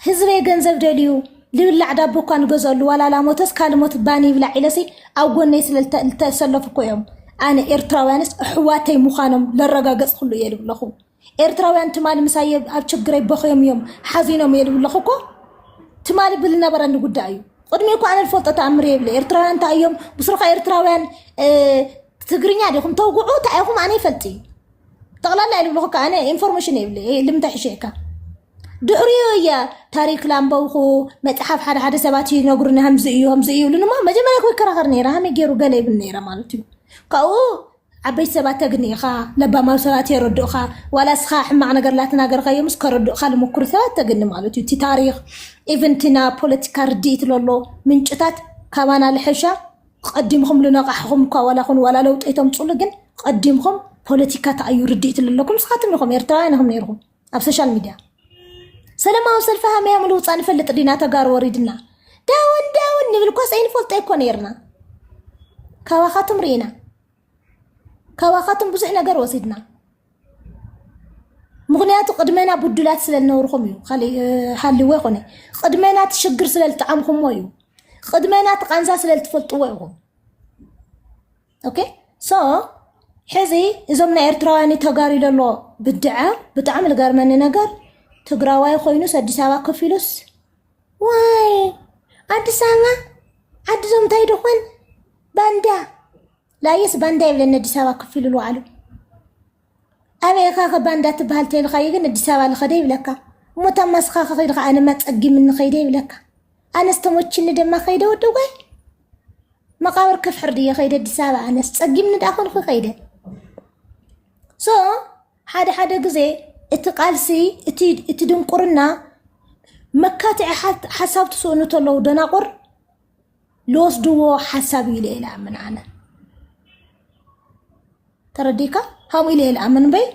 ህዝበ ገንዘብ ደልዩ ልብላዕ ዳቦ እኳ ንገዘሉ ዋላ ላሞተስ ካልሞት ባኒ ይብላዕ ኢለሲ ኣብ ጎነይ ስለልተሰለፉ እኮ እዮም ኣነ ኤርትራውያንስ ኣሕዋተይ ምዃኖም ለረጋገፅኩሉ እየ ልብለኹ ኤርትራውያን ትማሊ ምሳየ ኣብ ችግረይ በኽዮም እዮም ሓዚኖም እየ ልብለኹ እኮ ትማሊ ብልነበረኒ ጉዳይ እዩ ቅድሚ እኳ ኣነ ልፈልጦ ተኣምር የብለ ኤርትራውያን እንታይ እዮም ብስሩኻ ኤርትራውያን ትግርኛ ዲኹም ተውግዑ እንታይ ኢኹም ኣነ ይፈልጥ እዩ ጠቕላላ እየ ልብልኹካ ኣነ ኢንፎርሜሽን የብለ ልምንተ ሕሸካ ድሕሪኡ እየ ታሪክ ላንበብኹ መፅሓፍ ሓደ ሓደ ሰባት ይነግሩኒ ከምዚ እዩ ከምዚ እዩ ይብሉኒ እሞ መጀመርያ ኮ ይከራኸር ነይረ ሃመይ ገይሩ ገለ ይብል ነይረ ማለት እዩ ካብኡ ዓበይቲ ሰባት ተግንኢኻ ለባማዊ ሰባት የረድኡኻ ዋላ እስኻ ሕማቕ ነገር ላተናገርካዮምስ ከረድኡኻ ልምኩር ሰባት ተግኒ ማለት እዩ እቲ ታሪክ ኢቨን እቲ ና ፖለቲካ ርድኢት ለሎ ምንጭታት ካባና ልሐሻ ቐዲምኹም ልነቓሕኹም እኳ ዋላ ኹኑ ዋላ ለውጢ ኣይተምጹሉ ግን ቐዲምኹም ፖለቲካ ታይ ኣዩ ርድኢት ለለኩም ንስኻትም ኢኹም ኤርትራውያን ኢኹም ነይርኹም ኣብ ሶሻል ሚድያ ሰለማዊ ሰልፊ ሃመያ ምልውፃ ንፈልጥ ዲና ተጋሩ ወሪድና ዳውን ዳውን ንብል ኳስ ኣይንፈልጦ እኮ ነይርና ካባኻትም ርኢና ካባኻትኩም ብዙሕ ነገር ወሲድና ምክንያቱ ቅድመና ብዱላት ስለ ዝነበርኩም እዩ ካሊእ ሃልዎ ይኮነ ቅድመና እቲ ሽግር ስለ ዝጠዓምኩምዎ እዩ ቅድመና እቲ ቃንዛ ስለ ዝትፈልጥዎ ኢኹም ኦኬ ሶ ሕዚ እዞም ናይ ኤርትራውያን ተጋሩ ዘሎ ብድዓ ብጣዕሚ ዝገርመኒ ነገር ትግራዋይ ኮይኑስ ኣዲስ ኣበባ ከፊሉስ ዋይ ኣዲስ ኣበባ ዓዲ ዞም እንታይ ድኾን ባንዳ ላየስ ባንዳ የብለን ኣዲስ ኣበባ ክፍ ኢሉ ኣሉ ኣበየካ ከ ባንዳ ትበሃል ተይልካዩ ግን ኣዲስ ኣበባ ልኸደ ይብለካ እሞ እታ ማስኻ ከኸይድካ ኣነማ ፀጊምኒ ከይደ ይብለካ ኣነስ ተሞችኒ ድማ ከይደ ወዲ ጓይ መቃብር ክፍሕር ድየ ከይደ ኣዲስ ኣበባ ኣነስ ፀጊምኒ ዳኣ ኮንኩ ከይደ ሶ ሓደ ሓደ ግዜ እቲ ቃልሲ እቲ እቲ ድንቁርና መካትዒ ሓሳብ ትስእኑ ተለዉ ደናቑር ልወስድዎ ሓሳብ እዩ ኢለ ልኣምን ኣነ ተረዲካ ከምኡ ኢለ ልኣምን በይ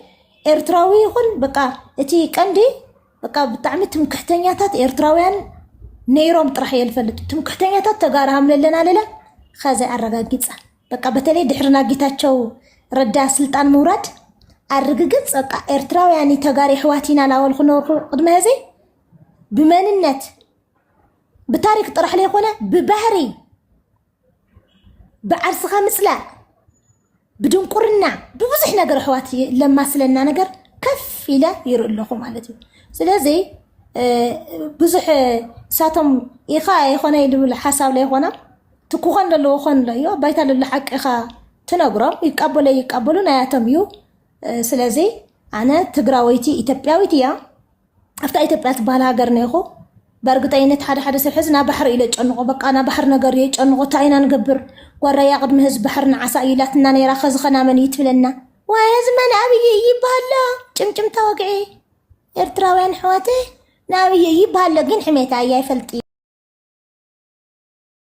ኤርትራዊ ይኹን በቃ እቲ ቀንዲ በቃ ብጣዕሚ ትምክሕተኛታት ኤርትራውያን ነይሮም ጥራሕ እየ ልፈልጥ ትምክሕተኛታት ተጋሩ ሃምለለና ለለ ከዚ ኣረጋጊፀ በቃ በተለይ ድሕሪ ናብ ጌታቸው ረዳ ስልጣን ምውራድ ኣርግግፅ በቃ ኤርትራውያን ተጋሪ ኣሕዋት ኢና ላበሉ ክነርኩ ቅድመ ህዚ ብመንነት ብታሪክ ጥራሕ ዘይኮነ ብባህሪ ብዓርስኻ ምፅላእ ብድንቁርና ብብዙሕ ነገር ኣሕዋት ለማስለና ነገር ከፍ ኢለ ይርኢ ኣለኹ ማለት እዩ ስለዚ ብዙሕ እሳቶም ኢኻ ይኾነ ይብል ሓሳብ ለይኾና እቲ ክኾን ዘለዎ ክኾን ኣሎ እዮ ባይታ ልሉ ሓቂኻ ትነግሮም ይቃበሎ ይቃበሉ ናያቶም እዩ ስለዚ ኣነ ትግራወይቲ ኢትዮጵያዊት እያ ኣብታ ኢትዮጵያ ትበሃል ሃገር ነይኹ በእርግጠኝነት ሓደ ሓደ ሰብ ሕዚ ናብ ባሕሪ ኢለ ጨንቆ በቃ ናብ ባሕሪ ነገር እየ ጨንቆ እንታይ ኢና ንገብር ጓራያ ቅድሚ ህዝቢ ባሕሪ ንዓሳ እዩ ኢላትና ነይራ ከዚ ከናመን እዩ ትብለና ወይ ህዝቢ መን ኣብይ እዩ ይበሃሎ ጭምጭምታ ወግዒ ኤርትራውያን ሕዋተ ንኣብይ እዩ ይበሃሎ ግን ሕሜታ እያ ይፈልጥ